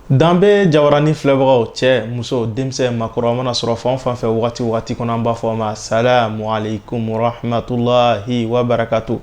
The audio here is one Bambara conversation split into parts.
danbe jabarani filɛbagaw cɛ muso denmisɛn makɔrɔ mana sɔrɔ fan fan fɛ wagati wagati kɔnɔ an b'a fɔ a ma salamu alaikum warahmatulahi wabarakatu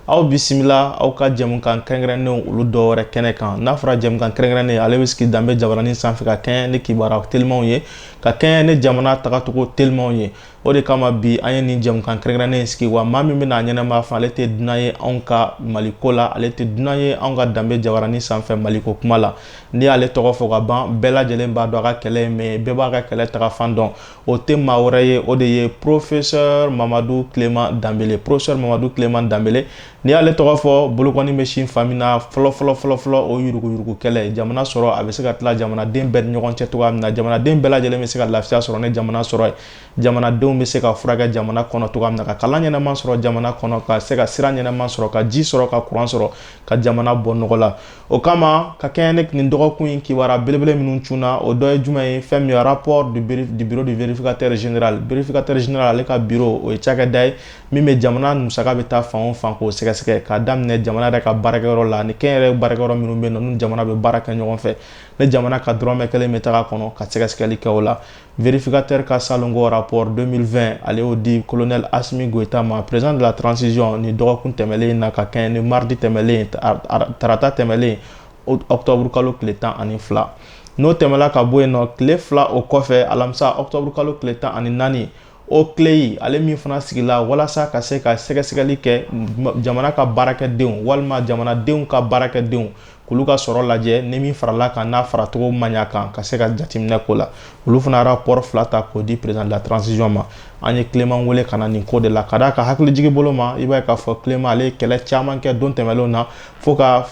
aw bisimila aw ka jɛmukan kɛrɛnkɛrɛnnenw olu dɔ wɛrɛ kɛnɛ kan n'a fɔra jɛmukan kɛrɛnkɛrɛnnen ale bɛ sigi danbe jabarani sanfɛ ka kɛɲɛ ni kibaruya telimanw ye ka kɛɲɛ ni jamana tagacogo telimanw ye O de kama bi an ye nin jɛmukan kɛrɛnkɛrɛnnen in sigi wa maa min bɛna a ɲɛnama fɔ ale tɛ dunan ye anw ka maliko la ale tɛ dunan ye anw ka danbe jabarani sanfɛ maliko kuma la n'i y'ale tɔgɔ fɔ ka ban bɛɛ lajɛlen b'a dɔn a ka kɛlɛ ye min ye bɛɛ b'a ka kɛlɛ tagafan dɔn o tɛ maa wɛrɛ ye o de ye professeur Mamadu Clément Danbele professeur Mamadu Clément Danbele N'i y'ale tɔgɔ fɔ bolokɔni bɛ sin fan min na fɔlɔ fɔlɔ fɔlɔ fɔlɔ o yuruguyurugu kɛlɛ jamana sɔrɔ a bɛ se ka tila jamanaden bɛɛ ni ɲɔgɔn cɛ cogoya min na jamanaden bɛɛ lajɛlen bɛ se ka lafiya sɔrɔ ni jamana sɔrɔ ye jamanadenw bɛ se ka furakɛ jamana kɔnɔ cogoya min na ka kalan ɲɛnama sɔrɔ jamana kɔnɔ ka se ka sira ɲɛnama sɔrɔ ka ji sɔrɔ ka kuran sɔrɔ ka jamana bɔ nɔgɔ la o kama ka kɛɲɛ ni nin dɔgɔkun in kibaruya belebele minnu cunna o dɔ ye jumɛn ye fɛn min ye rapport du bureau du vérificateur général vérificateur général ale ka bureau o ye cakɛda ye min bɛ jamana musaka bɛ taa fan o fan k'o sɛgɛsɛgɛ k'a daminɛ jamana yɛrɛ ka baarakɛyɔrɔ la ni kɛnyɛrɛye baarakɛyɔrɔ minnu bɛ yen nɔ n'u jamana bɛ baara kɛ ɲɔgɔn fɛ ni jamana ka dɔrɔmɛ kelen bɛ taga kɔnɔ ka sɛgɛsɛgɛli kɛ o la vérificateur ka salon ko rapport 2020 ale y'o di colonel Asimi Goita ma président de la transition nin dɔgɔkun tɛmɛlen in na ka kɛɲɛ ni mardi tɛmɛlen tarata tɛmɛlen octobre kalo tile tan ani fila n'o tɛmɛla ka bɔ yen nɔ tile fila o kɔfɛ alamisa octobre kalo tile tan ani naani OCLEI ale min fana sigila walasa ka se ka sɛgɛsɛgɛli kɛ jamana ka baarakɛdenw walima jamanadenw ka baarakɛdenw k'olu ka sɔrɔ lajɛ ni min farala kan n'a faracogo ma ɲa kan ka se ka jateminɛ k'o la olu fana rapport fila ta k'o di président de la transition ma an ye Clément wele ka na nin ko de la ka d'a ka hakilijigi bolo ma i b'a ye k'a fɔ Clément ale ye kɛlɛ caman kɛ don tɛmɛlenw na fo ka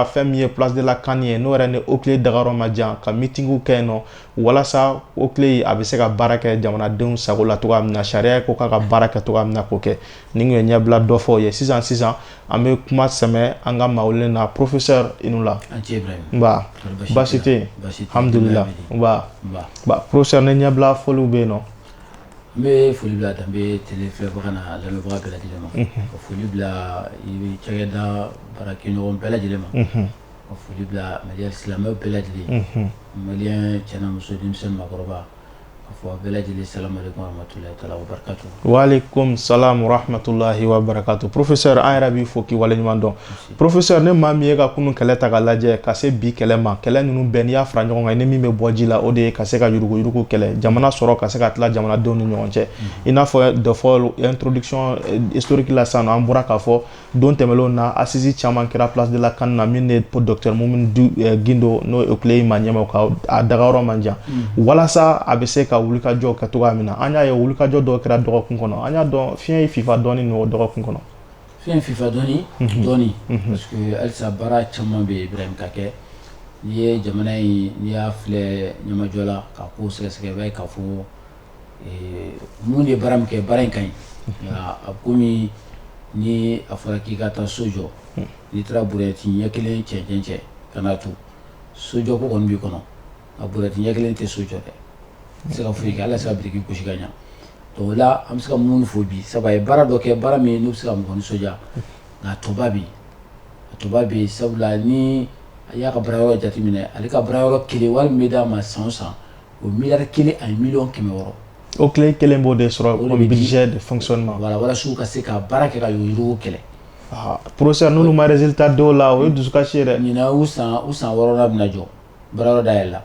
fɛn min ye place de la CAN ye n'o yɛrɛ ni OCLEI dagayɔrɔ man jan ka mitingiw kɛ yen nɔ walasa OCLEI a bɛ se ka baara kɛ jamanadenw sago la cogoya min na sariya ko k'a ka baara kɛ cogoya min na k'o kɛ nin kun ye ɲɛbila dɔ fɔ ye sisan sisan an bɛ kuma sɛmɛ an ka maa welelen na professeur i ni wula baasi tɛ yen alhamdulila professeur ne ɲɛbila foliw bɛ yen nɔ n bɛ foli bila danbe télé filɛbaga n'a lamɛnbaga bɛɛ lajɛlen ma ka foli bila i bɛ cakɛda baarakɛɲɔgɔn bɛɛ lajɛlen ma Ka foli bila malien silamɛw bɛɛ lajɛlen ye unhun malien cɛ n'a muso denmisɛn ni maakɔrɔba ka fɔ a bɛɛ lajɛlen salamalekum waramatulahi taala wabarakatu waalekum salam warahamatulahi wabarakatu professeur an yɛrɛ b'i fo k'i waleɲuman dɔn professeur ni maa min y'i ka kunun kɛlɛ ta k'a lajɛ ka se bi kɛlɛ ma kɛlɛ ninnu bɛɛ n'i y'a fara ɲɔgɔn kan i ni min bɛ bɔ ji la o de ye ka se ka yuruguyurugu kɛlɛ jamana sɔrɔ ka se ka tila jamanadenw ni ɲɔgɔn cɛ i n'a fɔ dɔ fɔla introduction eh, historique la sisan nɔ an bɔra k'a fɔ don tɛmɛnlenw na assises caman kɛra place de la CAN na min ni docteur Mumin eh, Gindo n'o ye Oclei ma ɲɛmaa ka a dagayɔrɔ man jan mm. walasa a bɛ se ka wulikajɔ kɛ cogoya min na an y'a ye wulikajɔ dɔw kɛra dɔgɔkun kɔnɔ an y'a dɔn fiɲɛ y'i fifa dɔɔni nɔ dɔgɔkun kɔnɔ fiɲɛ fifa dɔɔni mhm. dɔɔni mhm. parce que halisa baara caman bɛ yen Ibrahim ka kɛ n'i ye jamana in n'i y'a filɛ ɲɛmajɔ la ka ko sɛgɛsɛgɛ i b'a ye k'a fɔ Mumin ye baara min kɛ baara in ka ɲi a komi ni a fɔra k'i ka taa so jɔ n'i taara brouette ɲɛ kelen cɛncɛn cɛ ka n'a to sojɔ ko kɔni b'i kɔnɔ nka brouette ɲɛ kelen tɛ so jɔ dɛ i tɛ se ka foyi kɛ halisa biriki gosi ka ɲɛ donc o la an bɛ se ka Mumin fo bi sabu a ye baara dɔ kɛ baara min n'o bɛ se ka mɔgɔ nisɔndiya nka a tɔba bɛ yen a tɔba bɛ yen sabula ni a y'a ka baara yɔrɔ jateminɛ ale ka baara yɔrɔ kelen wari min bɛ d'a ma san o san o mi kelen ani mi kɛmɛ wɔɔrɔ o tile kelen b'o de sɔrɔ de fsɔn ma walasiw ka se ka baara kɛ ka yiriiriw kɛlɛ poro n'olu mariz ta dɔw la o ye dusukasi yɛrɛ ɲin san u san wɔɔrɔ bɛna jɔ baarada yɛrɛ la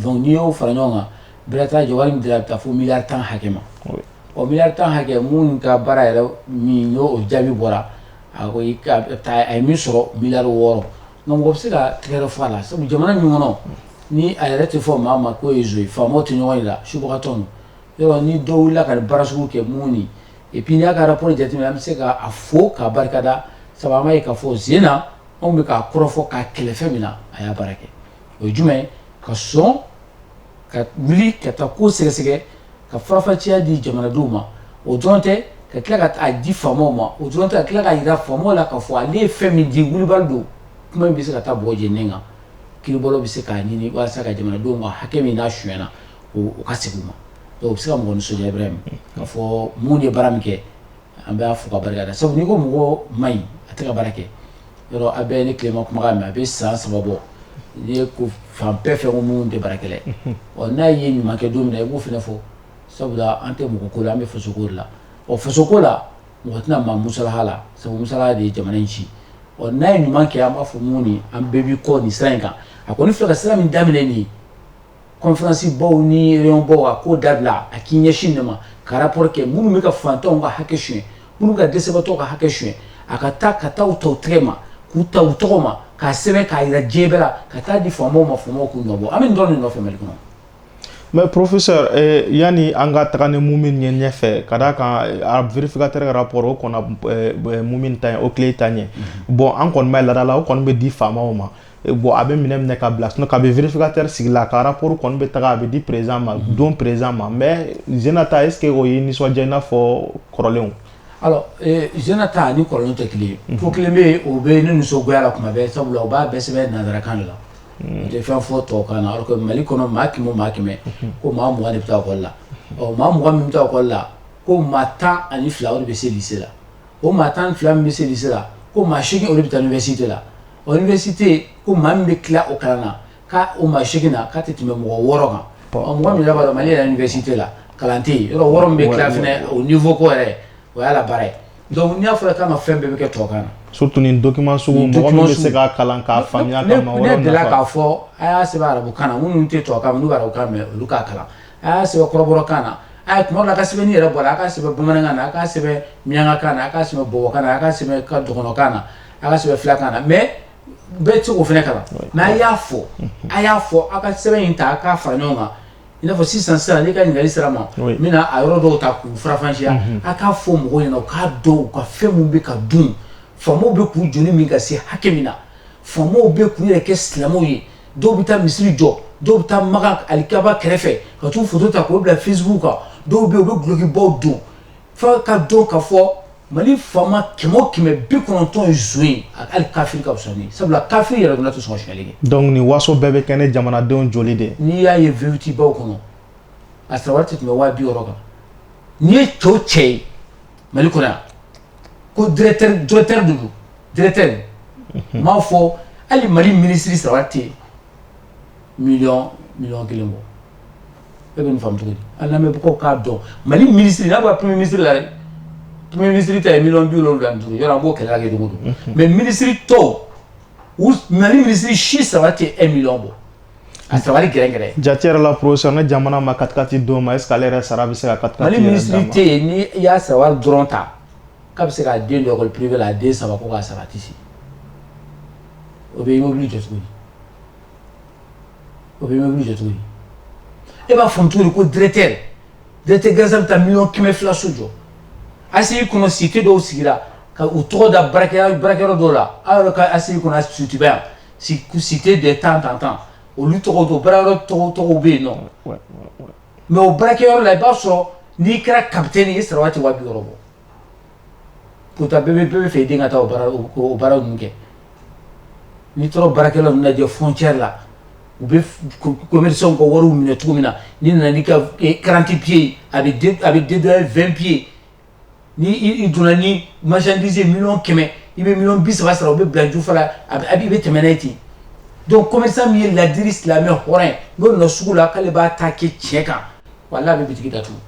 don n'i y'o fara ɲɔgɔn kan bɛɛta jɔ min bɛ taa fo mi tan hakɛ ma o mi tan hakɛ minnu ka baara yɛrɛ min o jaabi bɔra a ko a ye min sɔrɔ mi wɔɔrɔ Nka mɔgɔ bɛ se ka tɛgɛrɛ fɔ a la sabu jamana min kɔnɔ ni a yɛrɛ tɛ fɔ maa ma k'o ye zon ye faamaw tɛ ɲɔgɔn yira subagatɔ ninnu yɔrɔ ni dɔ wulila ka nin baara sugu kɛ Mumin et puis n'i y'a ka rapport jateminɛ an bɛ se k'a fo k'a barika da sabu an b'a ye k'a fɔ sen na anw bɛ k'a kɔrɔfɔ k'a kɛlɛ fɛn min na a y'a baara kɛ o ye jumɛn ye ka sɔn ka wuli ka taa ko sɛgɛsɛgɛ ka faranfasiya di jamanadenw ma o dɔrɔn tɛ ka tila ka taa di faamaw ma o dɔrɔn tɛ ka tila ka jira faamaw la k'a fɔ ale ye fɛn min di wulibali don kuma in bɛ se ka taa bɔgɔ jeninen kan kiiribɔlaw bɛ se k'a ɲini walasa ka jamanadenw ma hakɛ min n'a sonyana k'o segin u ma o bɛ se ka mɔgɔ nisɔndiya Ibrahim k'a fɔ Mumin ye baara min kɛ an b'a fo k'a barika da sabu n'i ko mɔgɔ ma ɲi a tɛ ka baara kɛ yɔrɔ a bɛ ne Clément kuma mɛn a bɛ san saba bɔ n'i ye ko fan bɛɛ fɛ ko Mumin tɛ baara kɛ ɔ n'a ye ɲumankɛ don min na i b'o fana fɔ sabula an tɛ mɔgɔ ko la an bɛ fasoko la ɔ fasoko la mɔgɔ tɛna maa musalaha la sabu musalaha de ye jamana in ci ɔ n'a ye ɲuman kɛ an b'a fɔ Mumin an bɛɛ b'i kɔ nin sira in kan a kɔni filɛ ka sira min daminɛ nin ye conférence baw ni réunion baw a k'o dabila a k'i ɲɛsin de ma ka rapport kɛ minnu bɛ ka fantanw ka hakɛ sonya minnu ka dɛsɛbaatɔw ka hakɛ sonya a ka taa u ta u tɛgɛ ma k'u ta u tɔgɔ ma k'a sɛbɛn k'a jira diɲɛ bɛɛ la ka taa di faamaw ma faamaw k'u nɔ bɔ an bɛ nin dɔrɔn de nɔfɛ Mali kɔnɔ mais professeur yanni an ka taga ni Mumin ye ɲɛfɛ ka d'a kan vérificateur ka rapport o kɔnna Mumin ta Oclei ta ɲɛ bon an kɔni b'a ye laada la o kɔni bɛ di faamaw ma bɔn a bɛ minɛ minɛ ka bila sinon kabi vérificateur sigila ka rapport kɔni bɛ taga a bɛ di président ma mhm. don président ma mais zinan ta est-ce que o ye nisɔndiya i n'a fɔ kɔrɔlenw alors zinan ta ani kɔrɔlenw tɛ kelen ye mhm. ko kelen bɛ yen o bɛ ne nisɔngoya la kuma bɛɛ sabula o b'a bɛɛ sɛbɛn nansarakan de la mhm. tɛ fɛn fɔ tubabukan na alors que Mali kɔnɔ maa kɛmɛ o maa kɛmɛ ko maa mugan de bɛ taa école la ɔ maa mugan min bɛ taa école la ko maa tan ani fila o de bɛ se lycée la o maa tan ni fila min bɛ se lycée la, ko maa seegin olu bɛ taa université la, ɔ université ko maa min bɛ tila o kalan na k'a o maa seegin na k'a tɛ tɛmɛ mɔgɔ wɔɔrɔ kan, ɔ mɔgɔ min yɛrɛ b'a dɔn Mali yɛrɛ université la kalan tɛ yen, yɔrɔ wɔɔrɔ min bɛ tila fana o niveau ko yɛrɛ o y'Ala baara ye donc n'a fɔra k'an ka fɛn bɛɛ bɛ kɛ tubabukan na, surtout nin document sugu mɔgɔ min bɛ se k'a kalan k'a faamuya ka maa wɛrɛw nafa, ne delila k'a fɔ a y'a sɛbɛn arabukan na minnu tɛ tubabukan mɛn n'u bɛ arabukan mɛn olu k'a kalan a y'a sɛbɛn kɔrɔbɔrɔkan na a ye kuma la a ka sɛbɛnni yɛrɛ bɔra a k'a sɛbɛn bamanankan na a k'a sɛbɛn miyankakan na a k'a sɛbɛn bɔbɔkan na a k'a sɛbɛn dɔgɔnɔkan na a k'a sɛbɛn filakan na mais bɛɛ tɛ se k'o fana kalan mais a y'a fɔ a y'a fɔ aw ka sɛbɛn in ta a k'a fara ɲɔgɔn kan i n'a fɔ sisan sisan n'i ka ɲininkali sera a ma n bɛna a yɔrɔ dɔw ta k'u faranfasiya a k'a fɔ mɔgɔw ɲɛna u k'a dɔn u ka fɛn min bɛ ka dun faamaw bɛ k'u joli min ka se hakɛ min na faamaw bɛ k'u yɛrɛ kɛ silamɛw ye dɔw bɛ taa misiri jɔ dɔw bɛ taa Makan alikaba kɛrɛfɛ ka t'u foto ta k'o bila Facebook kan dɔw bɛ yen u bɛ dulokibaw don f'a k'a dɔn k'a fɔ Mali faama kɛmɛ o kɛmɛ bi kɔnɔntɔn ye nson ye hali kafiri ka fisa n'o ye sabula kafiri yɛrɛ tun na tɛ sɔn ka sonyali kɛ donc nin waso bɛɛ bɛ kɛ ni jamanadenw joli de ye n'i y'a ye V8baw kɔnɔ a sara wari tɛ tɛmɛ waa bi wɔɔrɔ kan n'i ye cɛ o cɛ ye Mali ko ko duuru duuruuru m'a fɔ hali mali minisiri saba tɛ mi mi kelen bɔ e bɛ fa cogo ala lamɛn bɛ k'a dɔn mali minisiri n'a bɛ pmi minisiriri la pmi minisiri ta ye mi duuru duuru yɔrɔ b'o kɛlɛ kɛ dugu don mɛ minisiriri tɔ mali minisiriri si saba tɛ e mi bɔ A sabali gɛrɛgɛrɛ jateyɔrɔ la porosɔn ne jamana ma kati don ma e ale yɛrɛ sara bɛ se ka ka taa tɛ yen ni i y'a saba dɔrɔn ta k'a bɛ se k'a den dɔgɔ pbi la a den saba ko k'a sara tɛ o bɛ wuli jɔ cogo o bɛ wuli jɔ cogo e b'a fɔ cogo ko dtɛ dtɛ gansan bɛ taa mi kɛmɛ fila su jɔ a y'i kɔnɔ si tɛ dɔw sigira ka u tɔgɔ da bara barakɛyɔrɔ dɔw la aw yɛrɛ ka a kɔnɔ sutiba yan cité de tant tant tant olu tɔgɔ don baarayɔrɔ tɔgɔ tɔgɔ bɛ yen non mais o baarakɛyɔrɔ la i b'a sɔrɔ n'i kɛra capitaine ye i sara wari tɛ waa bi wɔɔrɔ bɔ pourtant bɛɛ bɛ bɛɛ b'a fɛ i den ka taa o baara ninnu kɛ n'i taara baarakɛla ninnu lajɛ frontière la u bɛ commerçants ka wari minɛ cogo min na n'i nana n'i ka quarante pieds a bɛ dédouaner vingt pieds n'i donna ni marchandise million kɛmɛ i bɛ million bi saba sara u bɛ bila jufa la a a i bɛ tɛmɛ n'a ye ten donc commerçant min ye laadiri silamɛ hɔrɔn ye n'o nana sugu la k'ale b'a ta kɛ tiɲɛ kan walayi a bɛ bitigi datugu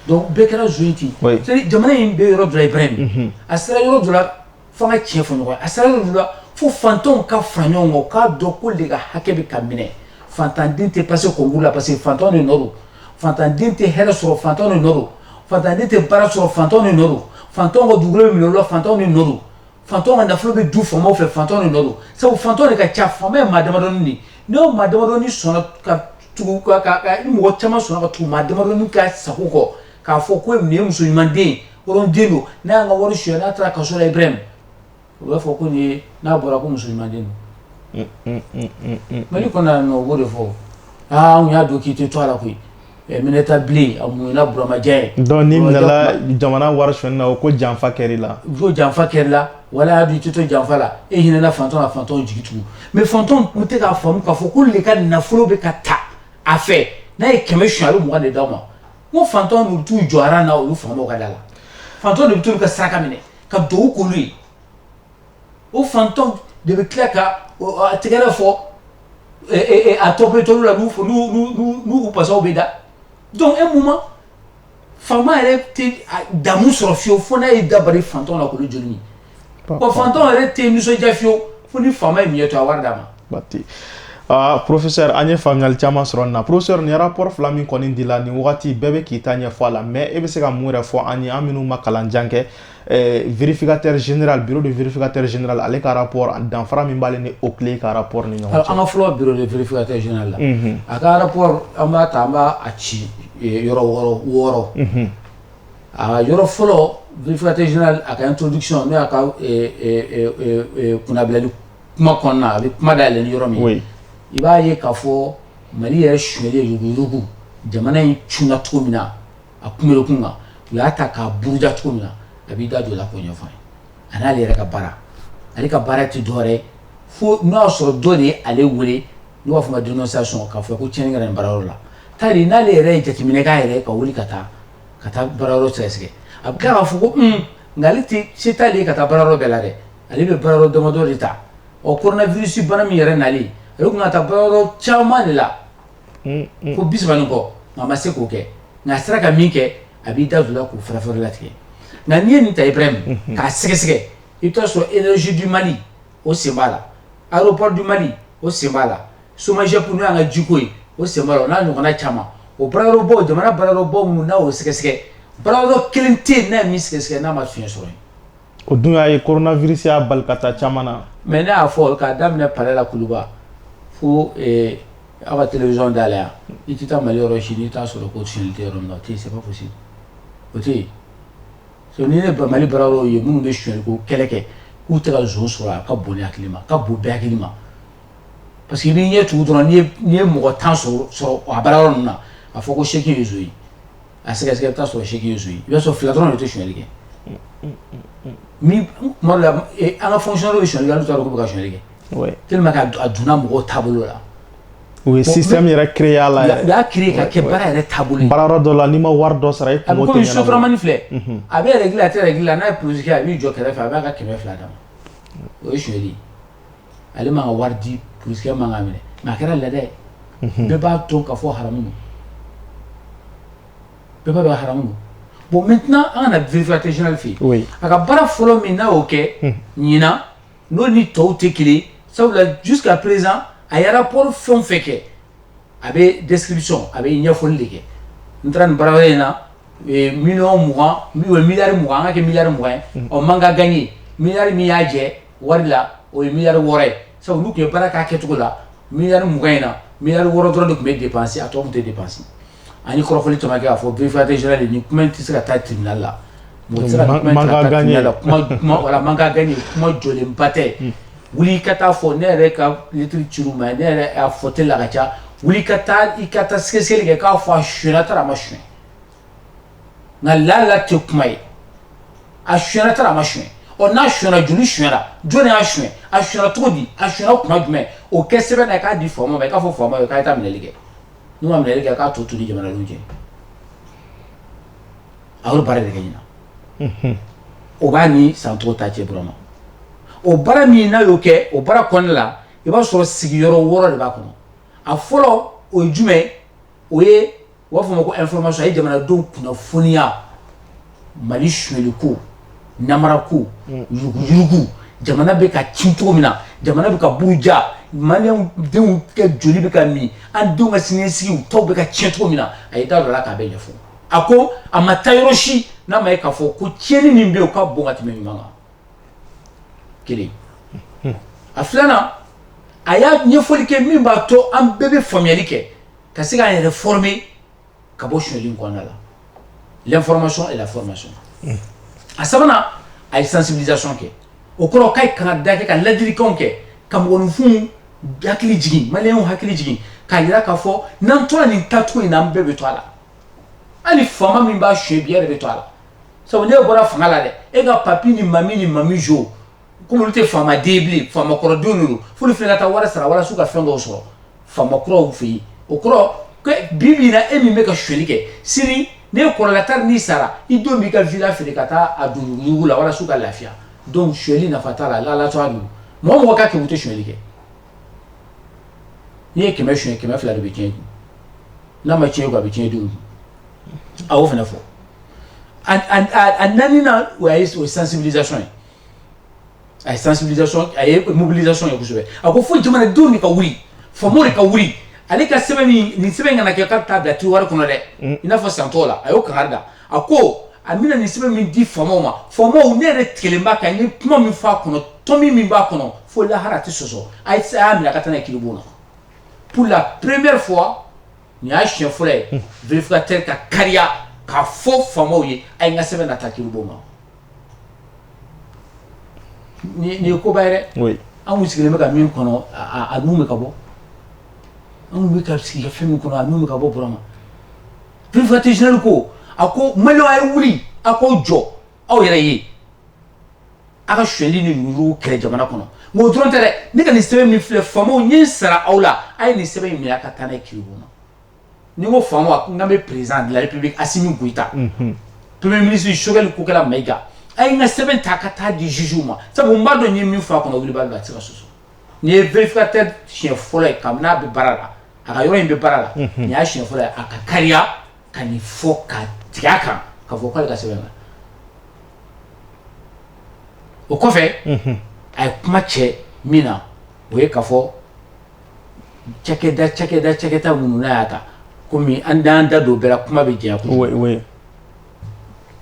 donc bɛɛ kɛra zon ye ten jamana in bɛ yɔrɔ dɔ la Ibrahim a sera yɔrɔ dɔ la Fo an ka tiɲɛ fɔ ɲɔgɔn ye. A sera yɔrɔ dɔ la fo fantanw ka fara ɲɔgɔn kan u k'a dɔn k'olu de ka hakɛ bɛ ka minɛ. Fantan den tɛ passer concours la parce que fantanw de nɔ don. Fantan den tɛ hɛrɛ sɔrɔ fantanw de nɔ don. Fantan den tɛ baara sɔrɔ fantanw de nɔ don. Fantanw ka dugukolo bɛ minɛ olu la fantanw de nɔ don. Fantanw ka nafolo bɛ dun faamaw fɛ fantanw de nɔ don. Sabu fantanw de ka ca faama ye maa damadɔni de ye. Ni o maa damadɔni sɔnna ka tugu ka ka ka ni mɔgɔ caman sɔnna ka tugu maa damadɔni ka sago kɔ k'a fɔ ko nin ye muso ɲuman den ye hɔrɔn den don n'a y'an ka wari suɲɛ n'a taara kaso la Ibrahim u b'a fɔ ko nin ye n'a bɔra ko muso ɲuman den don Mali kɔnɔ yan nɔ u b'o de fɔ aa anw y'a dɔn k'i tɛ to a la koyi eh, Minɛta bilen a muɲuna buramaja ye donc n'i minɛla jamana wari suɲɛni na o ko janfa kɛr'i la u ko janfa kɛr'i la wala y'a dɔn i tɛ to janfa la e hinɛna fantanw na fantanw jigi tugu mais fantanw tun tɛ k'a faamu k'a fɔ k'olu de ka nafolo bɛ ka ta a fɛ n'a ye kɛmɛ suɲɛ a bɛ mugan de d'aw ma Ko fantanw bɛ t'u jɔ aran na olu faamaw ka da la fantanw de bɛ t'olu ka saraka minɛ ka duwawu k'olu ye o fantanw de bɛ tila ka tɛgɛrɛ fɔ a tɔ bɛ t'olu la n'u basaw bɛ da donc un moment faama yɛrɛ tɛ damu sɔrɔ fiyew fo n'a ye dabali fantanw la k'olu joli Bon fantanw yɛrɛ tɛ nisɔndiya fiyew fo ni faama ye miɲɛ to a wari d'a ma. Baasi tɛ. Aa professeur an ye faamuyali caman sɔrɔ nin na professeur nin rapport fila min kɔni dila nin wagati bɛɛ bɛ k'i ta ɲɛfɔ a la mais e bɛ se ka mun yɛrɛ fɔ an ye an minnu ma kalan jan kɛ ɛɛ vérificateur général bureau de vérificateur général ale ka rapport danfara min b'ale ni OCLEI ka rapport ni ɲɔgɔn cɛ. An ka fɔlɔ bureau de vérificateur général la. Unhun. A ka rapport an b'a ta an b'a a ci yɔrɔ wɔɔrɔ wɔɔrɔ. Unhun. Aa yɔrɔ fɔlɔ vérificateur général a ka introduction n'o y'a ka kundabilali kuma kɔnɔna na a bɛ kuma da yɛlɛ yɔrɔ min i b'a ye k'a fɔ Mali yɛrɛ suɲɛli jugu jamana in cun cogo min na a kunbiri kun kan u y'a ta k'a buruja cogo min na a b'i da don o la k'o ɲɛfɔ a n'ale yɛrɛ ka baara ale ka baara tɛ dɔwɛrɛ fo n'o y'a sɔrɔ dɔ de ye ale wele n'u b'a fɔ a ma dénonciation k'a fɔ ko tiɲɛni kɛra nin baarayɔrɔ la tari n'ale yɛrɛ ye jateminɛ k'a yɛrɛ ka wuli ka taa ka taa baarayɔrɔ sɛgɛsɛgɛ a bɛ tila k'a fɔ ko un nka ale tɛ se t'ale ye ka taa baarayɔrɔ bɛɛ la dɛ ale bɛ baarayɔrɔ damadɔ de ta ɔ coronavirus bana min yɛrɛ nalen ale tun ka taa baarayɔrɔ caman de la ko bi saba ni kɔ nka a ma se k'o kɛ nka a sera ka min kɛ a b'i da don o la k'o fɛrɛfɛrɛ latigɛ nka n'i ye nin ta Ibrahim k'a sɛgɛsɛgɛ i bɛ taa sɔrɔ Énergie du Mali o sen b'a la Aéroport du Mali o sen b'a la Somajɛp n'o y'an ka jiko ye o sen b'a la o n'a ɲɔgɔnna caman o baarayɔrɔbaw jamana baarayɔrɔbaw minnu n'a y'o sɛgɛsɛgɛ baarayɔrɔ kelen tɛ yen n'a ye min sɛgɛsɛgɛ n'a ma fiɲɛ sɔrɔ yen o dun y'a ye coronavirus y'a bali ka taa caman na mais ne y'a fɔ k'a daminɛ palais la Kuluba fo aw ka télévision da la yan i tɛ taa Mali yɔrɔ si n'i t'a sɔrɔ ko sonyali tɛ yɔrɔ min na o tɛ yen c'est pas possible o tɛ yen ni ne bɛ Mali baarayɔrɔw ye minnu bɛ sonyali ko kɛlɛ kɛ k'u tɛ zon sɔrɔ a ka bon ne hakili ma a ka bon bɛɛ hakili ma parce que n'i ɲɛ tugu dɔrɔn n'i ye mɔgɔ tan sɔrɔ a bara yɔrɔ na a fɔ ko seki ye zo ye a sɛgɛsɛ bɛ sɔrɔ seki ye zo i b'a sɔrɔ fila dɔrɔn de tɛ suli kɛ tuma la an ka fɔsi bɛ suli la taara bɛ ka suli kɛ te ka dunan mɔgɔ taabolo la u ye si yɛrɛ kiya la y'a ki ka kɛ baara yɛrɛ taabolo baara dɔ la ni ma wari dɔ sara soturama filɛ a bɛ yɛrɛ a tɛ yɛrɛ la n'a ye psi a b'i jɔ kɛrɛfɛ fɛ a b'a ka kɛmɛ fila d'a ma o ye suli ale ma ka wari di pkɛ man minɛ nka a kɛra lajɛ bɛɛ b'a to ka fɔ hamu bɛɛ bɛ hamu bon mɛ tɛna an kana vfa tɛ zli fɛ yen a ka baara fɔlɔ min na y'o kɛ ɲin n'o ni tɔw tɛ kelen sabula dusu ka perez a yɛrɛ paul fɛn fɛ kɛ a bɛ desisɔn a bɛ ɲɛfɔli de kɛ n taara nin bara in na mi miyan an ka kɛ miri mugan ye ɔ man ka gan ye miri min y'a jɛ wari la o ye mi wɔɔrɔ ye sabu olu tun ye baara k'a kɛcogo la mi mugan in na mi wɔɔrɔ dɔrɔn de tun bɛ de pansi a tɔgɔ tɛ de pansi ani kɔrɔfɔfɔli caman kɛ k'a fɔ vfinkatɛ sira de ni kuma in tɛ se ka taa tibina la mɔgɔ sera la kuma man gɛn kuma jɔlen ba tɛ wuli ka taa fɔ ne yɛrɛ kalitiriri ci ma ne yɛrɛ' fɔ tɛ la ka ca wuli ka taa i ka taa sɛgɛsɛ kɛ k'a fɔ a sutara a ma su nka lala tɛ kuma ye a sonyara tari a ma sonya ɔ n'a sonyara joli sonyara jɔn y'a sonya a sonyara cogo di a sonyara kuma jumɛn o kɛ sɛbɛn na k'a di faama ma k'a fɔ faama ye k'a taa minɛli kɛ n'u ma minɛli kɛ k'a tɔ to ni jamanadenw cɛ a y'o baara de kɛ ɲinan o b'a ni san tɔw ta cɛ Burama o baara min n'a y'o kɛ o baara kɔnɔna la i b'a sɔrɔ sigiyɔrɔ wɔɔrɔ de b'a kɔnɔ a fɔlɔ o ye jumɛn o ye u b'a fɔ ma ko information a ye jamanadenw kunnafoniya Mali sonyali ko namara ko yurugu yurugu jamana bɛ ka ci cogo min na jamana bɛ ka buruja maliyɛnw denw ka joli bɛ ka min an denw ka siniɲɛsigi u taw bɛ ka tiɲɛ cogo min na a y'i da don a la k'a bɛɛ ɲɛfɔ a ko a ma taa yɔrɔ si n'a ma ye k'a fɔ ko tiɲɛni min bɛ yen o ka bon ka tɛmɛ ɲuman kan. kelen a filanan a y'a ɲɛfɔli kɛ min b'a to an bɛɛ bɛ faamuyali kɛ ka se k'an yɛrɛ former ka bɔ suɲɛli in kɔnɔna la l'information et la formation a sabanan a ye sensibilisation kɛ o kɔrɔ k'a ye kangarida kɛ ka ladilikanw kɛ ka mɔgɔninfinw hakili jigin maliyɛnw hakili jigin k'a jira k'a fɔ n'an tora nin taacogo in na an bɛɛ bɛ to a la hali faama min b'a suɲɛ bi e yɛrɛ bɛ to a la sabu n'e bɔra fanga la dɛ e ka papi ni mami ni mami jo kɔmi olu tɛ faama den bilen faama kɔrɔ denw don f'olu fana ka taa wari sara walasa u ka fɛn dɔw sɔrɔ faama kuraw fɛ yen o kɔrɔ bi bi in na e min bɛ ka suɲɛli kɛ sini n'e kɔrɔla tari n'i sara i denw b'i ka vila feere ka taa a don yurugu la walasa u ka lafiya donc suɲɛli nafa t'a la lalato don mɔgɔ mɔgɔ ka kɛmɛ tɛ suɲɛli kɛ n'i ye kɛmɛ suɲɛ kɛmɛ fila de bɛ tiɲɛ dun n'a ma tiɲɛ a bɛ tiɲɛ dun a y'o fana fɔ a naaninan o ye o sensibilisation ye a ye sensibilisation a ye mobilisation ye kosɛbɛ a ko fo jamanadenw de ka wuli faamaw de ka wuli ale ka sɛbɛn min nin sɛbɛn kana kɛ k'a bɛ taa bila tiwari kɔnɔ dɛ mm. i n'a fɔ san tɔw la a y'o kangari da a ko a bɛna nin sɛbɛn min di faamaw ma faamaw ne yɛrɛ tigɛlen b'a kan n ye kuma min fɔ a kɔnɔ tɔmi min b'a kɔnɔ fo lahara a tɛ sɔsɔ a y'a minɛ a ka taa n'a ye kiribon na pour la première fois Nin y'a siɲɛ fɔlɔ ye vérificateur ka kariya k'a fɔ faamaw ye a ye n ka sɛbɛn na taa kiribon ma nin ye koba ye dɛ anw sigilen bɛ ka min kɔnɔ a nun bɛ ka bɔ anw bɛ ka sigi ka fɛn min kɔnɔ a nun bɛ ka bɔ Burama vérificateur général ko a ko maliyɛnw a ye wuli a k'aw jɔ aw yɛrɛ ye aw ka suɲɛli ni yurugu kɛlɛ jamana kɔnɔ nka o dɔrɔn tɛ dɛ ne ka nin sɛbɛn min filɛ faamaw n ye n sara aw la a ye nin sɛbɛn in minɛ ka taa n'a ye kiribon na ni n ko faamaw n kan bɛ président de la république Assimi Goïta premier ministre Choguel Kokalla Maïga a ye n ka sɛbɛn ta ka taa di jugew ma sabu n b'a dɔn n ye min fɔ a kɔnɔ wulibali a tɛ se ka sɔsɔ nin ye vérificateur siɲɛ fɔlɔ ye kabini a bɛ baara la a ka yɔrɔ in bɛ baara la nin y'a siɲɛ fɔlɔ ye a ka kariya ka nin fɔ ka tigɛ a kan k'a fɔ k'ale ka sɛbɛn la O kɔfɛ a ye kuma cɛ min na o ye k'a fɔ cakɛda cakɛda cakɛda minnu n'a y'a ta comme an t'an da don o bɛɛ la kuma bɛ janya kojugu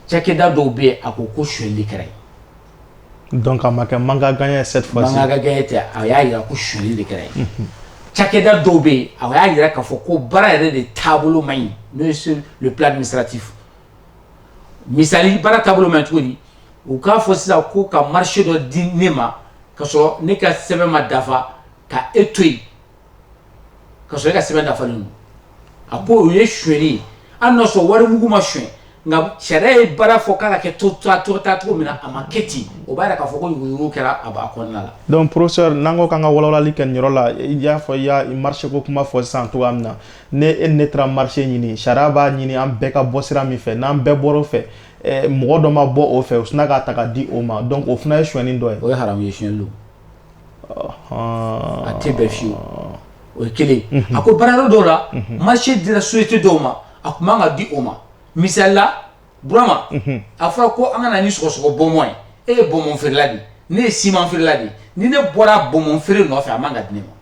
cakɛda dɔw bɛ yen a ko ko suɲɛli kɛra yen donc a ma kɛ manque à gagner cette fois ci manque à gagner tɛ a y'a jira ko suɲɛli de kɛra yen cakɛda dɔw bɛ yen a y'a jira k'a fɔ ko baara yɛrɛ de taabolo man ɲi n'o ye sur le plan administratif Misali baara taabolo man ɲi cogo di u k'a fɔ sisan ko ka marché dɔ di ne ma ka sɔrɔ ne ka sɛbɛn ma dafa ka e to yen ka sɔrɔ e ka sɛbɛn dafalen don a ko o ye sonyɛli ye hali n'a sɔrɔ wari mugu ma sonyɛ nka sariya ye baara fɔ k'a ka kɛ cogo min na a ma kɛ ten o b'a yira k'a fɔ ko jugu kɛra a b'a kɔnɔna la donc professeur n'an ko k'an ka walawalali kɛ nin yɔrɔ la i y'a fɔ i y'a marché ko kuma fɔ sisan cogoya min na ne e ne taara marché ɲini sariya b'a ɲini an bɛɛ ka bɔ sira min fɛ n'an bɛɛ bɔr'o fɛ eh, mɔgɔ dɔ ma bɔ o fɛ o sina k'a ta ka di o ma donc o fana ye sonyɛni dɔ ye o ye haramu ye sonyɛni don a tɛ bɛn fiyewu o ye kelen a ko baarayɔrɔ dɔw la marché dira société dɔw ma a tun man ka di o ma misali la burama a fɔra ko an ka na ni sɔgɔsɔgɔ bɔnbɔn ye e ye bɔnbɔn feerela de ye ne ye siman feerela de ye ni ne bɔra bɔnbɔn feere nɔfɛ a man ka di ne ma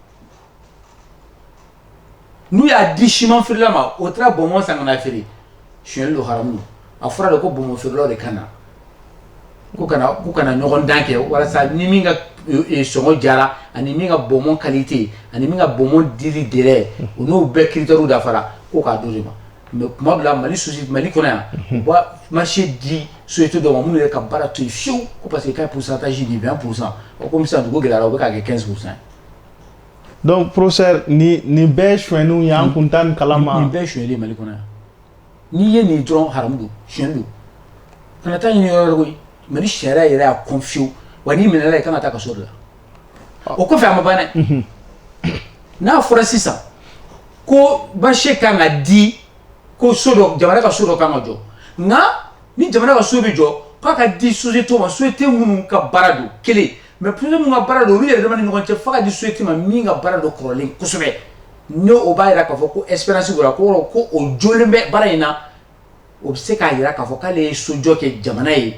n'u y'a di siman feerela ma o taara bɔnbɔn san ka na feere sonyɛli don haramu don a fɔra de ko bɔnbɔn feerelaw de ka na ko ka na k'u ka na ɲɔgɔndan kɛ walasa ni min ka e, e, sɔngɔ jara ani min ka bɔnbɔn qualité ani min ka bɔnbɔn dili délai o n'o bɛɛ critères dafara ko k'a d'o de ma mais tuma dɔ la mali sosi mali kɔnɔ yan u b'a marché di société dɔw ma minnu yɛrɛ ka baara t'o ye fiyewu ko parce que k'a pourcentage di 20 pourcent o komi sisan dugu gɛlɛyara o bɛ k'a kɛ 15 pourcent ye donc professeur nin nin bɛɛ ye sonyɛniw ye an tun t'a nin kalama nin bɛɛ ye sonyɛli ye mali kɔnɔ yan n'i ye nin dɔrɔn haramu don sonyɛni don kana taa ɲini yɔrɔ wɛrɛ koyi mali sariya yɛrɛ y'a kɔn fiyewu wa n'i minɛla i kan ka taa kaso de la ah. o kɔfɛ a ma ban dɛ mhm. n'a fɔra sisan ko marché kan ka di ko so dɔ jamana ka so dɔ kan ka jɔ nka ni jamana ka so bɛ jɔ k'a ka di société ma société minnu ka baara don kelen mais société minnu ka baara don olu yɛrɛ dama ni ɲɔgɔn cɛ f'a ka di société ma min ka baara don kɔrɔlen kosɛbɛ ne o b'a jira k'a fɔ ko expérience ko ko o jɔlen bɛ baara in na o bɛ se k'a jira k'a fɔ k'ale ye sojɔ kɛ jamana ye